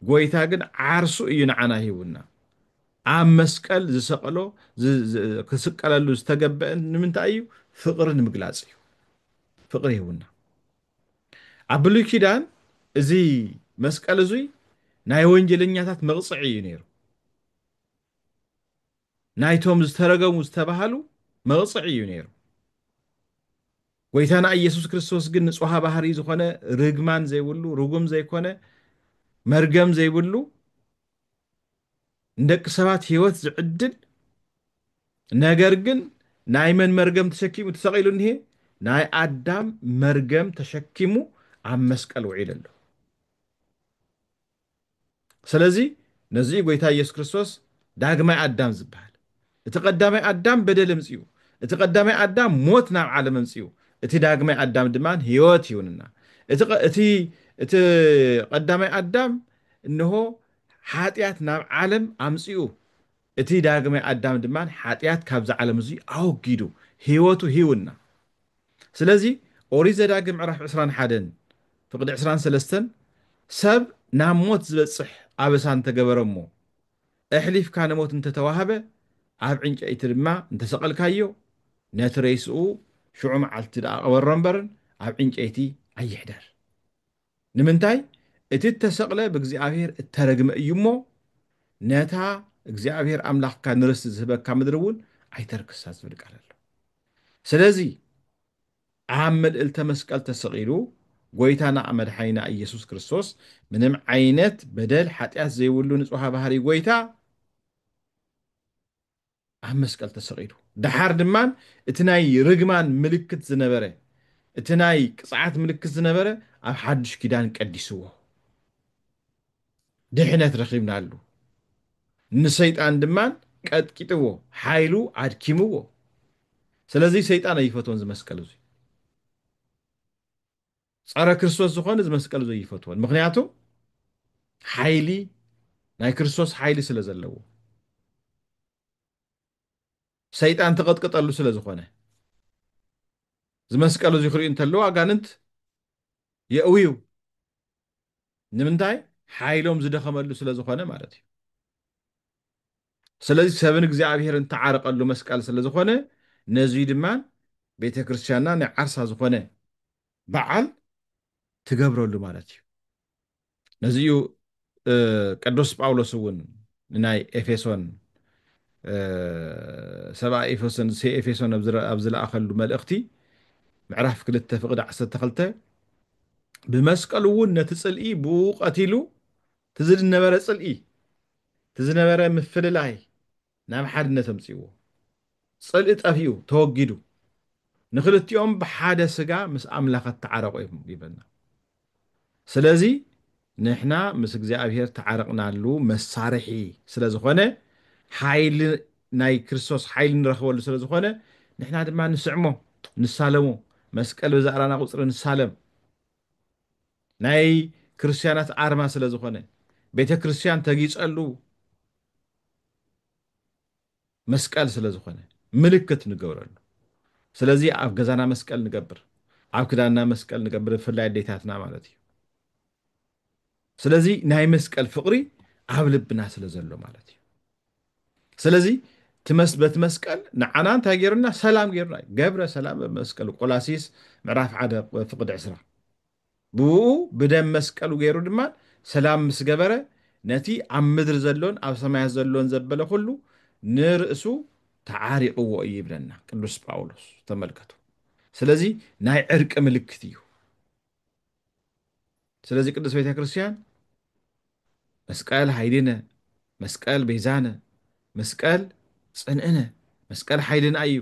ጎይታ ግን ዓርሱ እዩ ንዓና ይህቡና ኣብ መስቀል ዝሰቀሎ ክስቀለሉ ዝተገበአን ንምንታይ እዩ ፍቅሪ ንምግላጽ እዩ ፍቅሪ ይህቡና ኣብ ብሉይ ኪዳን እዚ መስቀል እዙይ ናይ ወንጀለኛታት መቕፅዒ እዩ ነይሩ ናይቶም ዝተረገሙ ዝተባሃሉ መቕፅዒ እዩ ነይሩ ጎይታና ኢየሱስ ክርስቶስ ግን ንጽሃ ባህሪ ዝኾነ ርግማን ዘይብሉ ርጉም ዘይኮነ መርገም ዘይብሉ ንደቂ ሰባት ህይወት ዝዕድል ነገር ግን ናይ መን መርገም ተሸኪሙ ተሰቒሉ እኒሄ? ናይ ኣዳም መርገም ተሸኪሙ ኣብ መስቀል ውዒሉ ኣሎ። ስለዚ ነዚ እዩ ጎይታ ኢየሱስ ክርስቶስ ዳግማይ ኣዳም ዝበሃል። እቲ ቀዳማይ ኣዳም በደል እምጺኡ፣ እቲ ቀዳማይ ኣዳም ሞት ናብ ዓለም እምጺኡ፣ እቲ ዳግማይ ኣዳም ድማ ህይወት ይውንና። እቲ ቀ- እቲ እቲ ቀዳማይ ኣዳም እንሆ ሓጢኣት ናብ ዓለም ኣምጺኡ፣ እቲ ዳግማይ ኣዳም ድማ ሓጢኣት ካብዚ ዓለም እዚ ኣወጊዱ ህይወቱ ሂውና። ስለዚ ኦሪት ዘዳግም ምዕራፍ 21 ፍቅዲ 23 ሰብ ናብ ሞት ዝበጽሕ ኣበሳ እንተገበረ እሞ እሕሊፍካ ንሞት እንተ ተዋህበ፣ ኣብ ዕንጨይቲ ድማ እንተ ሰቐልካዮ፣ ነቲ ሬስኡ ሽዑ መዓልቲ ደኣ ቅበሮ እምበርን ኣብ ዕንጨይቲ ኣይሕደር። ንምንታይ እቲ እተሰቕለ ብእግዚኣብሄር እተረግመ እዩ እሞ፣ ነታ እግዚኣብሄር ኣምላኽካ ንርስቲ ዝህበካ ምድሪ እውን ኣይተርክሳ ዝብል ቃል ኣሎ። ስለዚ፣ ኣብ መልእልተ መስቀል ተሰቒሉ ጎይታና መድሓኒና እየሱስ ክርስቶስ ምንም ዓይነት በደል ሓጥያት ዘይብሉ ንጹሃ ባህሪ ጎይታ ኣብ መስቀል ተሰቒሉ ደሓር ድማ እቲ ናይ ርግማን ምልክት ዝነበረ እቲ ናይ ቅጽዓት ምልክት ዝነበረ ኣብ ሓዱሽ ኪዳን ቀዲስዎ ድሕነት ረኺብናሉ። ንሰይጣን ድማ ቀጥቂጥዎ፣ ሓይሉ ኣድኪምዎ። ስለዚ ሰይጣን ኣይፈትዎን እዚ መስቀል እዚ። ጸረ ክርስቶስ ዝኾነ እዚ መስቀል እዚ ኣይፈትዎን። ምክንያቱ ሓይሊ ናይ ክርስቶስ ሓይሊ ስለ ዘለዎ ሰይጣን ተቐጥቅጠሉ ስለ ዝኾነ እዚ መስቀል እዚ ክሪኡ እንተለዉ ኣጋንንት የእውዩ ንምንታይ ሓይሎም ዝደኸመሉ ስለ ዝኾነ ማለት እዩ ስለዚ ሰብን እግዚኣብሔርን ተዓርቀሉ መስቀል ስለ ዝኾነ ነዙይ ድማ ቤተ ክርስትያንና ናይ ዓርሳ ዝኾነ በዓል ትገብረሉ ማለት እዩ ነዚ እዩ ቅዱስ ጳውሎስ እውን ንናይ ኤፌሶን ሰብኣ ኤፌሶን ኤፌሶን ኣብ ዝለኣኸሉ መልእኽቲ ምዕራፍ ክልተ ፍቕዲ ዓሰርተ ክልተ ብመስቀሉ እውን ነቲ ጽልኢ ብኡ ቀቲሉ እቲ ዝነበረ ጽልኢ እቲ ዝነበረ ምፍልላይ ናብ ሓድነት ኣምጺእዎ ጽልኢ ጠፊኡ ተወጊዱ ንክልቲኦም ብሓደ ስጋ ምስ ኣምላኽ ኣተዓረቑ እዮም ይብለና ስለዚ ንሕና ምስ እግዚኣብሔር ተዓርቕናሉ መሳርሒ ስለ ዝኾነ ሓይሊ ናይ ክርስቶስ ሓይሊ ንረኽበሉ ስለ ዝኾነ ንሕና ድማ ንስዕሞ ንሳለሞ መስቀል ብዛዕራና ቁጽሪ ንሳለም ናይ ክርስትያናት ኣርማ ስለ ዝኾነ ቤተ ክርስትያን ተጊጸሉ መስቀል ስለ ዝኾነ ምልክት ንገብረሉ ስለዚ ኣብ ገዛና መስቀል ንገብር ኣብ ክዳንና መስቀል ንገብር ብፍላይ ኣዴታትና ማለት እዩ ስለዚ ናይ መስቀል ፍቕሪ ኣብ ልብና ስለ ዘሎ ማለት እዩ ስለዚ በቲ መስቀል ንዓና እንታይ ገይሩና ሰላም ገይሩና ገብረ ሰላም በመስቀል ቆላሲስ ምዕራፍ ሓደ ፍቅዲ ዕስራ ብእኡ ብደም መስቀሉ ገይሩ ድማ ሰላም ምስ ገበረ ነቲ ኣብ ምድሪ ዘሎን ኣብ ሰማያት ዘሎን ዘበለ ኩሉ ንርእሱ ተዓሪቕዎ እዩ ይብለና ቅዱስ ጳውሎስ ተመልከቱ ስለዚ ናይ ዕርቂ ምልክት እዩ ስለዚ ቅዱስ ቤተ ክርስቲያን መስቀል ሓይልነ መስቀል ቤዛነ መስቀል ጽንዕነ መስቀል ሓይልና እዩ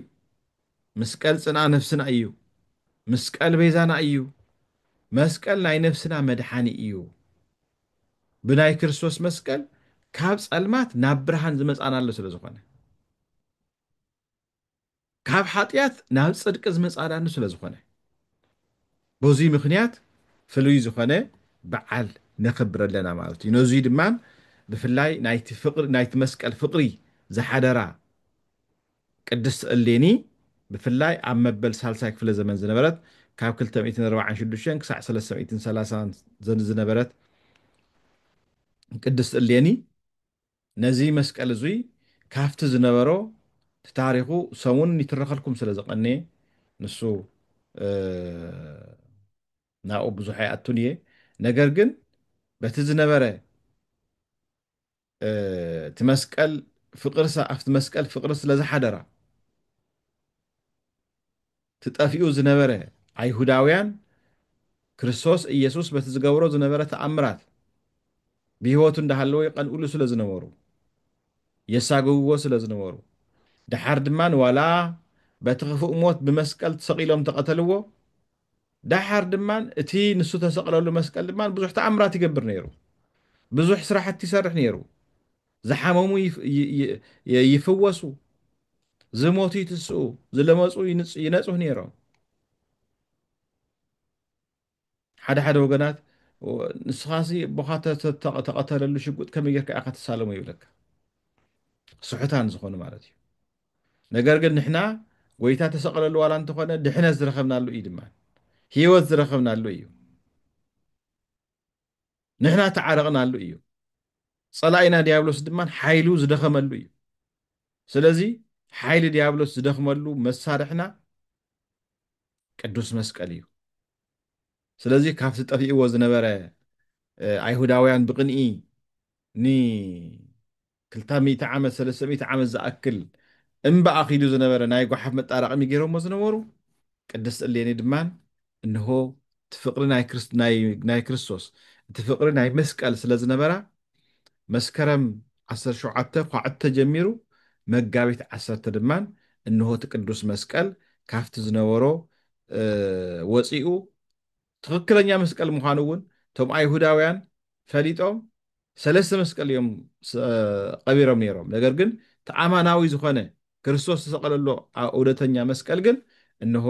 ምስቀል ጽንኣ ነፍስና እዩ። ምስቀል ቤዛና እዩ። መስቀል ናይ ነፍስና መድሓኒ እዩ። ብናይ ክርስቶስ መስቀል ካብ ጸልማት ናብ ብርሃን ዝመጻናሉ ስለ ዝኾነ ካብ ሓጢኣት ናብ ጽድቂ ዝመጻናሉ ስለ ዝኾነ በዙይ ምክንያት ፍሉይ ዝኾነ በዓል ነኽብር ኣለና ማለት እዩ ነዙይ ድማ ብፍላይ ናይቲ መስቀል ፍቕሪ ዝሓደራ ቅድስት እሌኒ ብፍላይ ኣብ መበል ሳልሳይ ክፍለ ዘመን ዝነበረት ካብ ክልተ ሚእትን ኣርባዓን ሽዱሽተን ክሳዕ ሰለስተ ሚእትን ሰላሳን ዝነበረት ቅድስት እሌኒ ነዚ መስቀል እዙይ ካፍቲ ዝነበሮ እቲ ታሪኹ ሰሙን ይትረኸልኩም ስለ ዝቐንየ ንሱ ናብኡ ብዙሕ ኣይኣቱን እየ ነገር ግን በቲ ዝነበረ እቲ መስቀል ፍቅርሳ ኣብቲ መስቀል ፍቅሪ ስለ ዝሓደራ ትጠፊኡ ዝነበረ ኣይሁዳውያን ክርስቶስ ኢየሱስ በቲ ዝገብሮ ዝነበረ ተኣምራት ብህይወቱ እንዳሃለወ ይቐንኡሉ ስለ ዝነበሩ የሳግውዎ ስለ ዝነበሩ ደሓር ድማ ዋላ በቲ ክፉእ ሞት ብመስቀል ተሰቒሎም ተቐተልዎ ደሓር ድማ እቲ ንሱ ተሰቕለሉ መስቀል ድማ ብዙሕ ተኣምራት ይገብር ነይሩ። ብዙሕ ስራሕቲ ይሰርሕ ነይሩ። ዝሓመሙ ይፍወሱ፣ ዝሞቱ ይትስኡ፣ ዝለመፁ ይነፅሁ ነይሮም። ሓደ ሓደ ወገናት ንስኻ ሲ ቦኻ ተቐተለሉ ሽጉጥ ከመይ ጌርካ ኢኻ ትሳለሞ ይብለካ ስሑታን ዝኾኑ ማለት እዩ ነገር ግን ንሕና ጎይታ ተሰቐለሉ ዋላ እንተኾነ ድሕነት ዝረኸብናሉ እዩ ድማ ህይወት ዝረኸብናሉ እዩ ንሕና ተዓረቕናሉ እዩ ፀላኢና ዲያብሎስ ድማ ሓይሉ ዝደኸመሉ እዩ ስለዚ ሓይሊ ዲያብሎስ ዝደኽመሉ መሳርሕና ቅዱስ መስቀል እዩ ስለዚ ካብቲ ጠፊእዎ ዝነበረ ኣይሁዳውያን ብቅንኢ ክልተ ሚእቲ ዓመት ሰለስተ ሚእቲ ዓመት ዝኣክል እምባ ኣኺሉ ዝነበረ ናይ ጓሓፍ መጣራቐሚ ገይሮሞ ዝነበሩ ቅድስት እሌኒ ድማ እንሆ እቲ ፍቕሪ ናይ ክርስቶስ እቲ ፍቕሪ ናይ መስቀል ስለ ዝነበራ መስከረም ዓሰርተ ሸውዓተ ዃዕተ ጀሚሩ መጋቢት ዓሰርተ ድማ እንሆ እቲ ቅዱስ መስቀል ካፍቲ ዝነበሮ ወጺኡ ትኽክለኛ መስቀል ምዃኑ እውን እቶም ኣይሁዳውያን ፈሊጦም ሰለስተ መስቀል እዮም ቐቢሮም ነይሮም። ነገር ግን እቲ ኣማናዊ ዝኾነ ክርስቶስ ዝተሰቐለሉ እውነተኛ መስቀል ግን እንሆ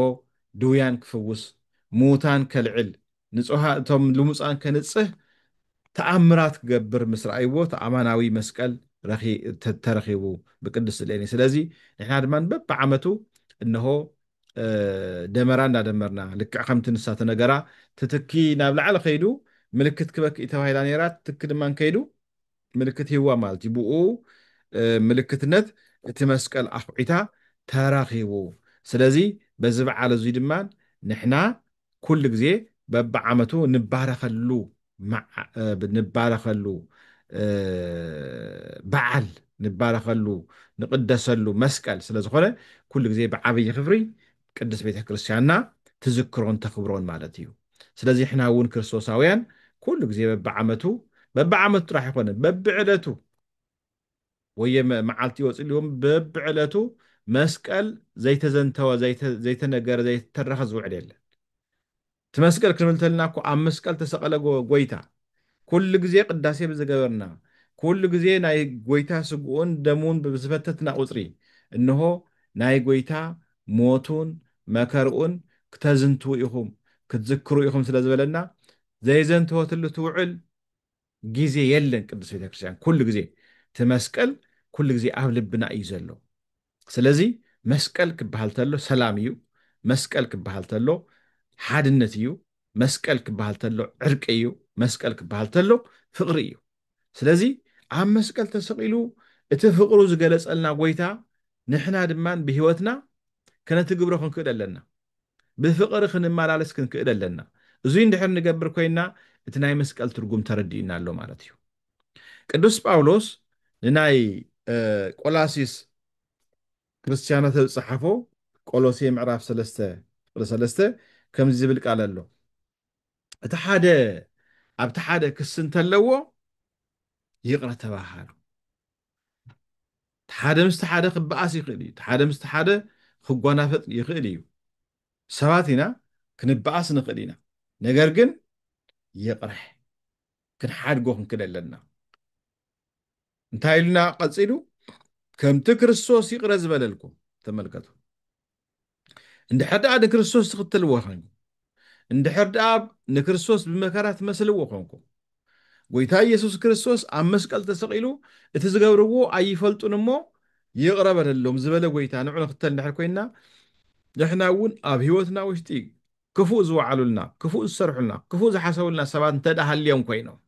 ድውያን ክፍውስ፣ ምዉታን ከልዕል፣ ንጹሃ እቶም ልሙጻን ከንጽህ ተኣምራት ክገብር ምስ ረኣይዎ እቲ ኣማናዊ መስቀል ተረኺቡ ብቅድስት እሌኒ። ስለዚ ንሕና ድማ በብዓመቱ እንሆ ደመራ እንዳደመርና ልክዕ ከምቲ ንሳ ተነገራ ትትኪ ናብ ላዕሊ ከይዱ ምልክት ክበክእ ተባሂላ ነይራ ትትኪ ድማ ከይዱ ምልክት ሂዋ ማለት እዩ ብኡ ምልክትነት እቲ መስቀል ኣኹዒታ ተራኺቡ ስለዚ በዚ በዓል እዙይ ድማ ንሕና ኩሉ ግዜ በብዓመቱ ንባረኸሉ ንባረኸሉ በዓል ንባረኸሉ ንቕደሰሉ መስቀል ስለ ዝኾነ ኩሉ ግዜ ብዓብዪ ክብሪ ቅድስት ቤተ ክርስቲያንና ትዝክሮን ተኽብሮን ማለት እዩ ስለዚ ሕና እውን ክርስቶሳውያን ኩሉ ግዜ በብዓመቱ በብዓመቱ ጥራሕ ይኾነ በብዕለቱ ወየ መዓልቲ ወጽልዎም በብዕለቱ መስቀል ዘይተዘንተወ ዘይተነገረ ዘይተተረኸ ዝውዕል የለን እቲ መስቀል ክንብል ተልና እኮ ኣብ መስቀል ተሰቐለ ጎይታ ኩሉ ግዜ ቅዳሴ ብዝገበርና ኩሉ ግዜ ናይ ጎይታ ስግኡን ደሙን ብዝፈተትና ቁጽሪ እንሆ ናይ ጎይታ ሞቱን መከርኡን ክተዝንትዉ ኢኹም ክትዝክሩ ኢኹም ስለ ዝበለና ዘይዘንተወትሉ ትውዕል ግዜ የለን ቅድስት ቤተክርስትያን ኩሉ ግዜ እቲ መስቀል ኩሉ ግዜ ኣብ ልብና እዩ ዘሎ ስለዚ መስቀል ክበሃል ተሎ ሰላም እዩ መስቀል ክበሃል ተሎ ሓድነት እዩ መስቀል ክበሃል ተሎ ዕርቂ እዩ መስቀል ክበሃል ተሎ ፍቕሪ እዩ ስለዚ ኣብ መስቀል ተሰቒሉ እቲ ፍቕሩ ዝገለጸልና ጎይታ ንሕና ድማ ብህይወትና ከነትግብሮ ክንክእል ኣለና ብፍቕሪ ክንመላለስ ክንክእል ኣለና። እዙይ እንድሕር ንገብር ኮይንና እቲ ናይ መስቀል ትርጉም ተረዲኡና ኣሎ ማለት እዩ። ቅዱስ ጳውሎስ ንናይ ቆላሲስ ክርስቲያናት ኣብ ዝጸሓፎ ቆሎሴ ምዕራፍ ሰለስተ ቁጽሪ ሰለስተ ከምዚ ዝብል ቃል ኣሎ እቲ ሓደ ኣብቲ ሓደ ክሲ እንተለዎ ይቕረ ተባሃሉ። እቲ ሓደ ምስቲ ሓደ ክበኣስ ይኽእል እዩ፣ እቲ ሓደ ምስቲ ሓደ ክጓናፈጥ ይኽእል እዩ፣ ሰባት ኢና ክንበኣስ ንኽእል ኢና፣ ነገር ግን ይቕረ ክንሓድጎ ክንክእል ኣለና። እንታይ ኢሉና ቀጺሉ? ከምቲ ክርስቶስ ይቕረ ዝበለልኩም። ተመልከቱ። እንድሕር ደኣ ንክርስቶስ ትኽተልዎ ዄንኩም፣ እንድሕር ደኣ ንክርስቶስ ብመከራ ትመስልዎ ዄንኩም፣ ጐይታ ኢየሱስ ክርስቶስ ኣብ መስቀል ተሰቒሉ እቲ ዝገብርዎ ኣይፈልጡን እሞ ይቕረ በለሎም ዝበለ ጐይታ ንዑ ንኽተል እንድሕር ኰይንና ንሕና እውን ኣብ ህይወትና ውሽጢ ክፉእ ዝወዓሉልና፣ ክፉእ ዝሰርሑልና፣ ክፉእ ዝሓሰቡልና ሰባት እንተደኣ ሃልዮም ኰይኖም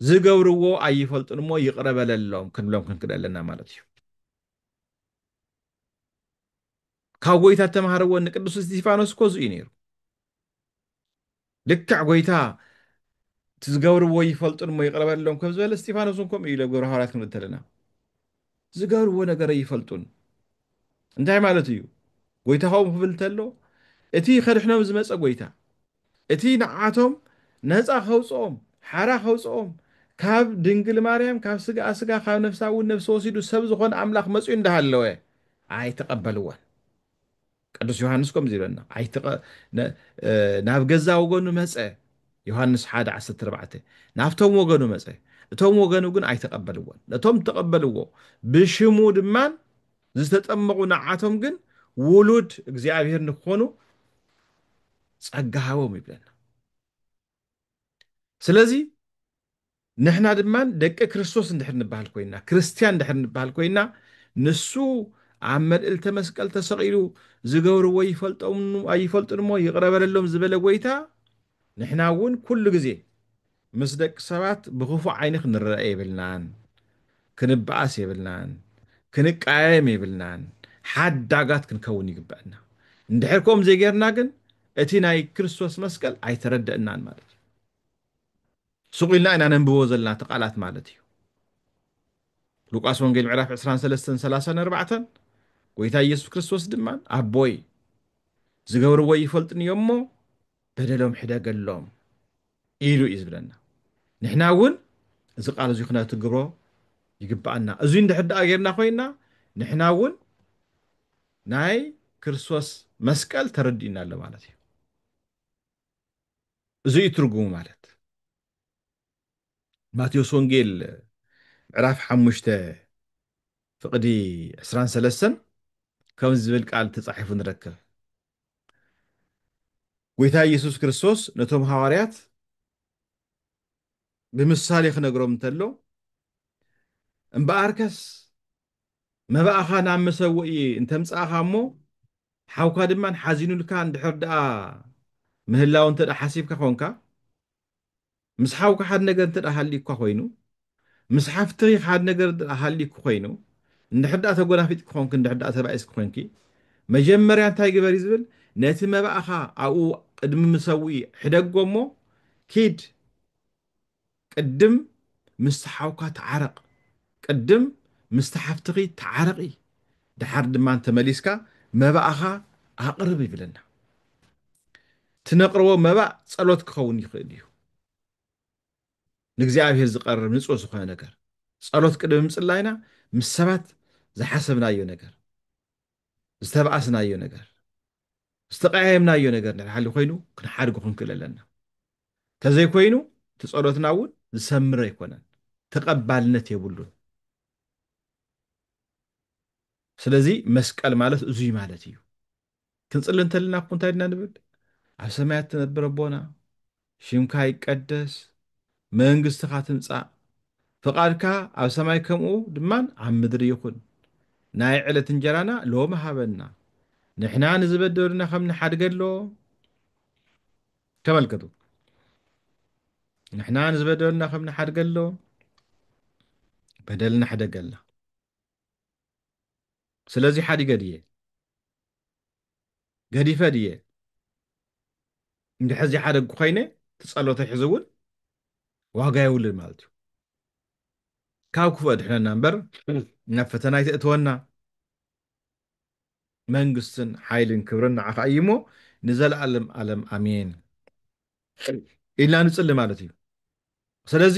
ዝገብርዎ ኣይፈልጡን እሞ ይቕረ በለሎም ክንብሎም ክንክእል ኣለና ማለት እዩ ካብ ጎይታ እተምሃርዎ ንቅዱስ እስጢፋኖስ እኮ እዚኡ ነይሩ ልክዕ ጎይታ እቲ ዝገብርዎ ይፈልጡን እሞ ይቕረ በለሎም ከም ዝበለ እስጢፋኖስ እውን ከምኡ ኢሉ ኣብ ግብረ ሃዋርያት ክንብል እንተለና ዝገብርዎ ነገር ኣይፈልጡን እንታይ ማለት እዩ ጎይታኹም ክብል ተሎ እቲ ከድሕኖም ዝመጸ ጎይታ እቲ ንዓቶም ነጻ ከውጽኦም ሓራ ከውጽኦም ካብ ድንግል ማርያም ካብ ስጋኣ ስጋ ካብ ነፍሳ እውን ነፍሲ ወሲዱ ሰብ ዝኾነ ኣምላኽ መጺኡ እንዳሃለወ ኣይተቀበልዎን ቅዱስ ዮሃንስ ከምዚ ይብለና፣ ኣይትቐ ን ናብ ገዛ ወገኑ መጸ፣ ዮሃንስ ሓደ ዓሰርተ ኣርባዕተ፣ ናብቶም ወገኑ መጸ፣ እቶም ወገኑ ግን ኣይተቐበልዎን፣ ነቶም እተቐበልዎ ብሽሙ ድማ ዝተጠመቑ ንዓቶም ግን ውሉድ እግዚኣብሔር ንክኾኑ ጸጋ ሃቦም ይብለና። ስለዚ ንሕና ድማ ደቂ ክርስቶስ እንድሕር ንበሃል ኮይና ክርስትያን እንድሕር ንበሃል ኮይና ንሱ ኣብ መልእልተ መስቀል ተሰቒሉ ዝገብርዎ ይፈልጦም ኣይፈልጡን እሞ ይቕረ በለሎም ዝበለ ጎይታ ንሕና እውን ኩሉ ግዜ ምስ ደቂ ሰባት ብኽፉእ ዓይኒ ክንረአ የብልናን ክንበኣስ የብልናን ክንቀያየም የብልናን ሓዳጋት ክንከውን ይግበእና እንድሕር ከምኡ ዘይገርና ግን እቲ ናይ ክርስቶስ መስቀል ኣይተረደእናን ማለት እዩ ሱቕ ኢልና ኢና ነንብቦ ዘለና እቲ ቃላት ማለት እዩ ሉቃስ ወንጌል ምዕራፍ 23 34 ጎይታ ኢየሱስ ክርስቶስ ድማ ኣቦይ ዝገብርዎ ይፈልጥን እዮም እሞ በደሎም ሕደገሎም ኢሉ እዩ ዝብለና። ንሕና እውን እዚ ቃል እዚ ክነትግብሮ ይግባኣና። እዙይ እንድሕር ደኣ ጌርና ኮይና ንሕና እውን ናይ ክርስቶስ መስቀል ተረዲኡና ኣሎ ማለት እዩ። እዚ እዩ ትርጉሙ ማለት ማቴዎስ ወንጌል ምዕራፍ ሓሙሽተ ፍቕዲ ዕስራን ሰለስተን ከም ዝብል ቃል ተጻሒፉ ንረክብ። ጐይታ ኢየሱስ ክርስቶስ ነቶም ሃዋርያት ብምሳሌ ክነግሮም እንተሎ እምበኣርከስ መባእኻ ናብ መሰውኢ እንተምጻእኻ እሞ ሓውካ ድማ ሓዚኑልካ እንድሕር ደኣ ምህላው እንተ ሓሲብካ ኾንካ ምስ ሓውካ ሓደ ነገር እንተ ሃልዩካ ኮይኑ፣ ምስ ሓፍትኺ ሓደ ነገር ድኣ ሃልዩኪ ኮይኑ፣ እንድሕር ድኣ ተጎናፊጥኪ ኮንኪ እንድሕር ድኣ ሰብኣይ እስኪ ኮንኪ፣ መጀመርያ እንታይ ግበሪ ዝብል ነቲ መባእኻ ኣብኡ ቅድሚ ምሰውኢ ሕደጎ እሞ ኪድ ቅድም ምስቲ ሓውካ ተዓረቕ፣ ቅድም ምስቲ ሓፍትኺ ተዓረቒ፣ ድሓር ድማ ተመሊስካ መባእኻ ኣቕርብ ይብለና። ትነቅርቦ መባእ ጸሎት ክኸውን ይኽእል እዩ። ንእግዚኣብሔር ዝቀርብ ንጹህ ዝኾነ ነገር ጸሎት ቅድሚ ምጽላይና ምስ ሰባት ዝሓሰብናዮ ነገር፣ ዝተባኣስናዮ ነገር፣ ዝተቀያየምናዮ ነገር እንድሕር ሃልዩ ኮይኑ ክንሓድጎ ክንክእል ኣለና። ተዘይኮይኑ እቲ ጸሎትና እውን ዝሰምር ኣይኮነን፣ ተቀባልነት የብሉን። ስለዚ መስቀል ማለት እዙይ ማለት እዩ። ክንጽሊ እንተልና እኮ እንታይ ድና ንብል ኣብ ሰማያት ትነብር ኣቦና ሽምካ ይቀደስ መንግስትኻ ትምጻእ ፍቓድካ ኣብ ሰማይ ከምኡ ድማን ኣብ ምድሪ ይኹን ናይ ዕለት እንጀራና ሎሚ ሃበና ንሕና ንዝበደሉና ከም ንሓድገሎ ተመልከቱ ንሕና ንዝበደሉና ከም ንሓድገሎ በደልና ሕደገልና ስለዚ ሓዲገ ድየ ገዲፈ ድየ እንድሕር ዘይሓደግኩ ኮይነ እቲ ጸሎተይ ሕዚ እውን ዋጋ የብሉን ማለት እዩ ካብ ክፉእ ኣድሕነና እምበር ናብ ፈተና ኣይተእትወና መንግስትን ሓይልን ክብርን ንዓኻ እዩ እሞ ንዘለኣለም ኣለም ኣሜን ኢልና ንጽሊ ማለት እዩ ስለዚ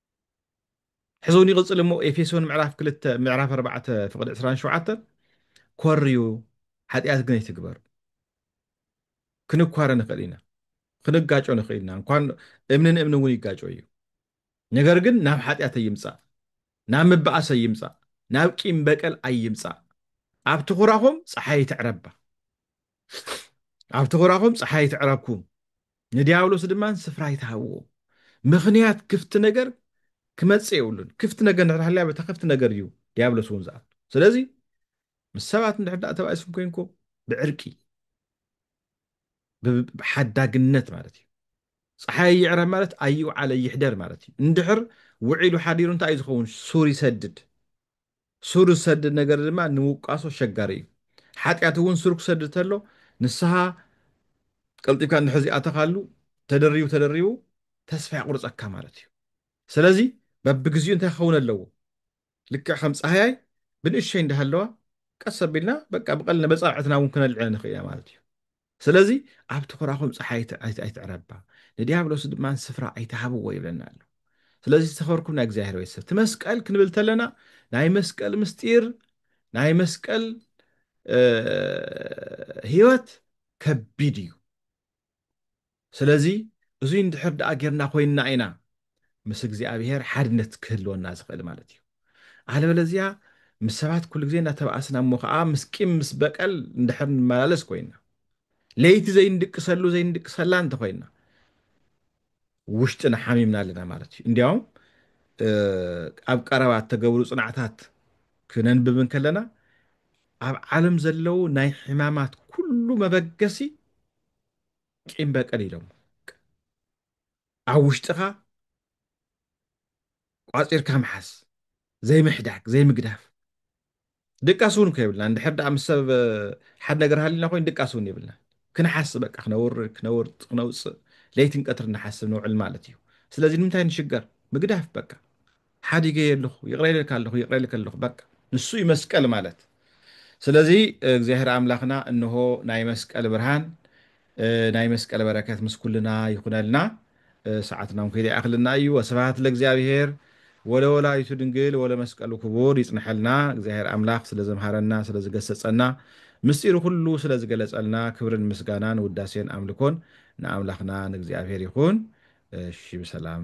ሕዝውን ይቕጽል እሞ ኤፌሶን ምዕራፍ ክልተ ምዕራፍ ኣርባዕተ ፍቕዲ ዕስራን ሸውዓተን ኮርዩ ሓጢኣት ግን ኣይትግበሩ ክንኳረ ንኽእል ኢና ክንጋጮ ንኽእል ኢና እንኳን እምኒ ንእምኒ እውን ይጋጮ እዩ ነገር ግን ናብ ሓጢኣት ኣይምፃእ ናብ ምባኣስ ኣይምፃእ ናብ ቂም በቀል ኣይምፃእ ኣብ ትኹራኹም ፀሓይ ትዕረባ ኣብቲ ኹራኹም ፀሓይ ኣይትዕረብኩም፣ ንዲያብሎስ ድማ ስፍራ ኣይትሃብዎ። ምኽንያት ክፍቲ ነገር ክመፅእ የብሉን። ክፍቲ ነገር እንድሕር ሃልያ በታ ክፍቲ ነገር እዩ ዲያብሎስ እውን ዝኣቱ። ስለዚ ምስ ሰባት እንድሕር ዳኣ ተባኢስኩም ኮይንኩም ብዕርቂ ብሓዳግነት ማለት እዩ። ፀሓይ ይዕረብ ማለት ኣይውዓለ ይሕደር ማለት እዩ። እንድሕር ውዒሉ ሓዲሩ እንታይ እዩ ዝኸውን? ሱር ይሰድድ። ሱር ዝሰድድ ነገር ድማ ንውቃሶ ኣሸጋሪ እዩ። ሓጢኣት እውን ሱር ክሰድድ ተሎ ንስሃ ቀልጢፍካ እንድሕር ዘይኣተኻሉ ተደሪቡ ተደሪቡ ተስፋ የቑርፀካ ማለት እዩ። ስለዚ በብግዚኡ እንታይ ክኸውን ኣለዎ? ልክዕ ከም ፃህያይ ብንእሸይ እንዳሃለዋ ቀስ ኣቢልና በቃ ብቐልና በፃብዕትና እውን ክነልዕለን ንኽእል ኢና ማለት እዩ። ስለዚ ኣብ ትዅራኹም ጸሓይ ኣይትዕረባ፣ ንድያብሎስ ድማ ስፍራ ኣይትሃብዎ ይብለና ኣሎ። ስለዚ ዝተኸበርኩም ናይ እግዚኣብሔር ቤተሰብ እቲ መስቀል ክንብል ተለና ናይ መስቀል ምስጢር ናይ መስቀል ህይወት ከቢድ እዩ። ስለዚ እዙይ እንድሕር ደኣ ጌርና ኮይንና ኢና ምስ እግዚኣብሄር ሓድነት ክህልወና ዝኽእል ማለት እዩ። ኣለበለዚያ ምስ ሰባት ኩሉ ግዜ እናተባኣስና እሞ ከዓ ምስ ቂም ምስ በቀል እንድሕር ንመላለስ ኮይንና ለይቲ ዘይንድቅሰሉ ዘይንድቅሰላ እንተኾይንና ውሽጥና ሓሚምና ኣለና ማለት እዩ። እንዲያውም ኣብ ቀረባ እተገብሩ ጽናዕታት ክነንብብ እንከለና ኣብ ዓለም ዘለዉ ናይ ሕማማት ኩሉ መበገሲ ቂም በቀል ኢሎሞ ኣብ ውሽጥኻ ቋፂርካ ምሓዝ ዘይምሕዳግ ዘይምግዳፍ ድቃስ እውን እኮ የብልናን እንድሕር ደኣ ምስ ሰብ ሓደ ነገር ሃሊና ኮይኑ ድቃስ እውን የብልናን ክንሓስብ በቃ ክነውር ክነውርፅ ክነውፅእ ለይትን ቀትርን ንሓስብ ንውዕል ማለት እዩ ስለዚ ንምንታይ ንሽገር ምግዳፍ በቃ ሓዲገ የለኹ ይቕረ ኢለልካ ኣለኹ ይቕረ ኢለልካ ኣለኹ በቃ ንሱ እዩ መስቀል ማለት ስለዚ እግዚኣብሔር ኣምላኽና እንሆ ናይ መስቀል ብርሃን ናይ መስቀል በረከት ምስ ኩልና ይኹነልና ሰዓትና እውን ከይደ ይኣኽልና እዩ ወስብሃት ለእግዚኣብሔር ወለወላዲቱ ድንግል ወለመስቀሉ ክቡር ይጽንሐልና እግዚኣብሔር ኣምላኽ ስለ ዘምሃረና ስለ ዝገሰጸና ምስጢሩ ኩሉ ስለ ዝገለጸልና ክብርን ምስጋናን ውዳሴን ኣምልኮን ንኣምላኽና ንእግዚኣብሔር ይኹን እሺ ብሰላም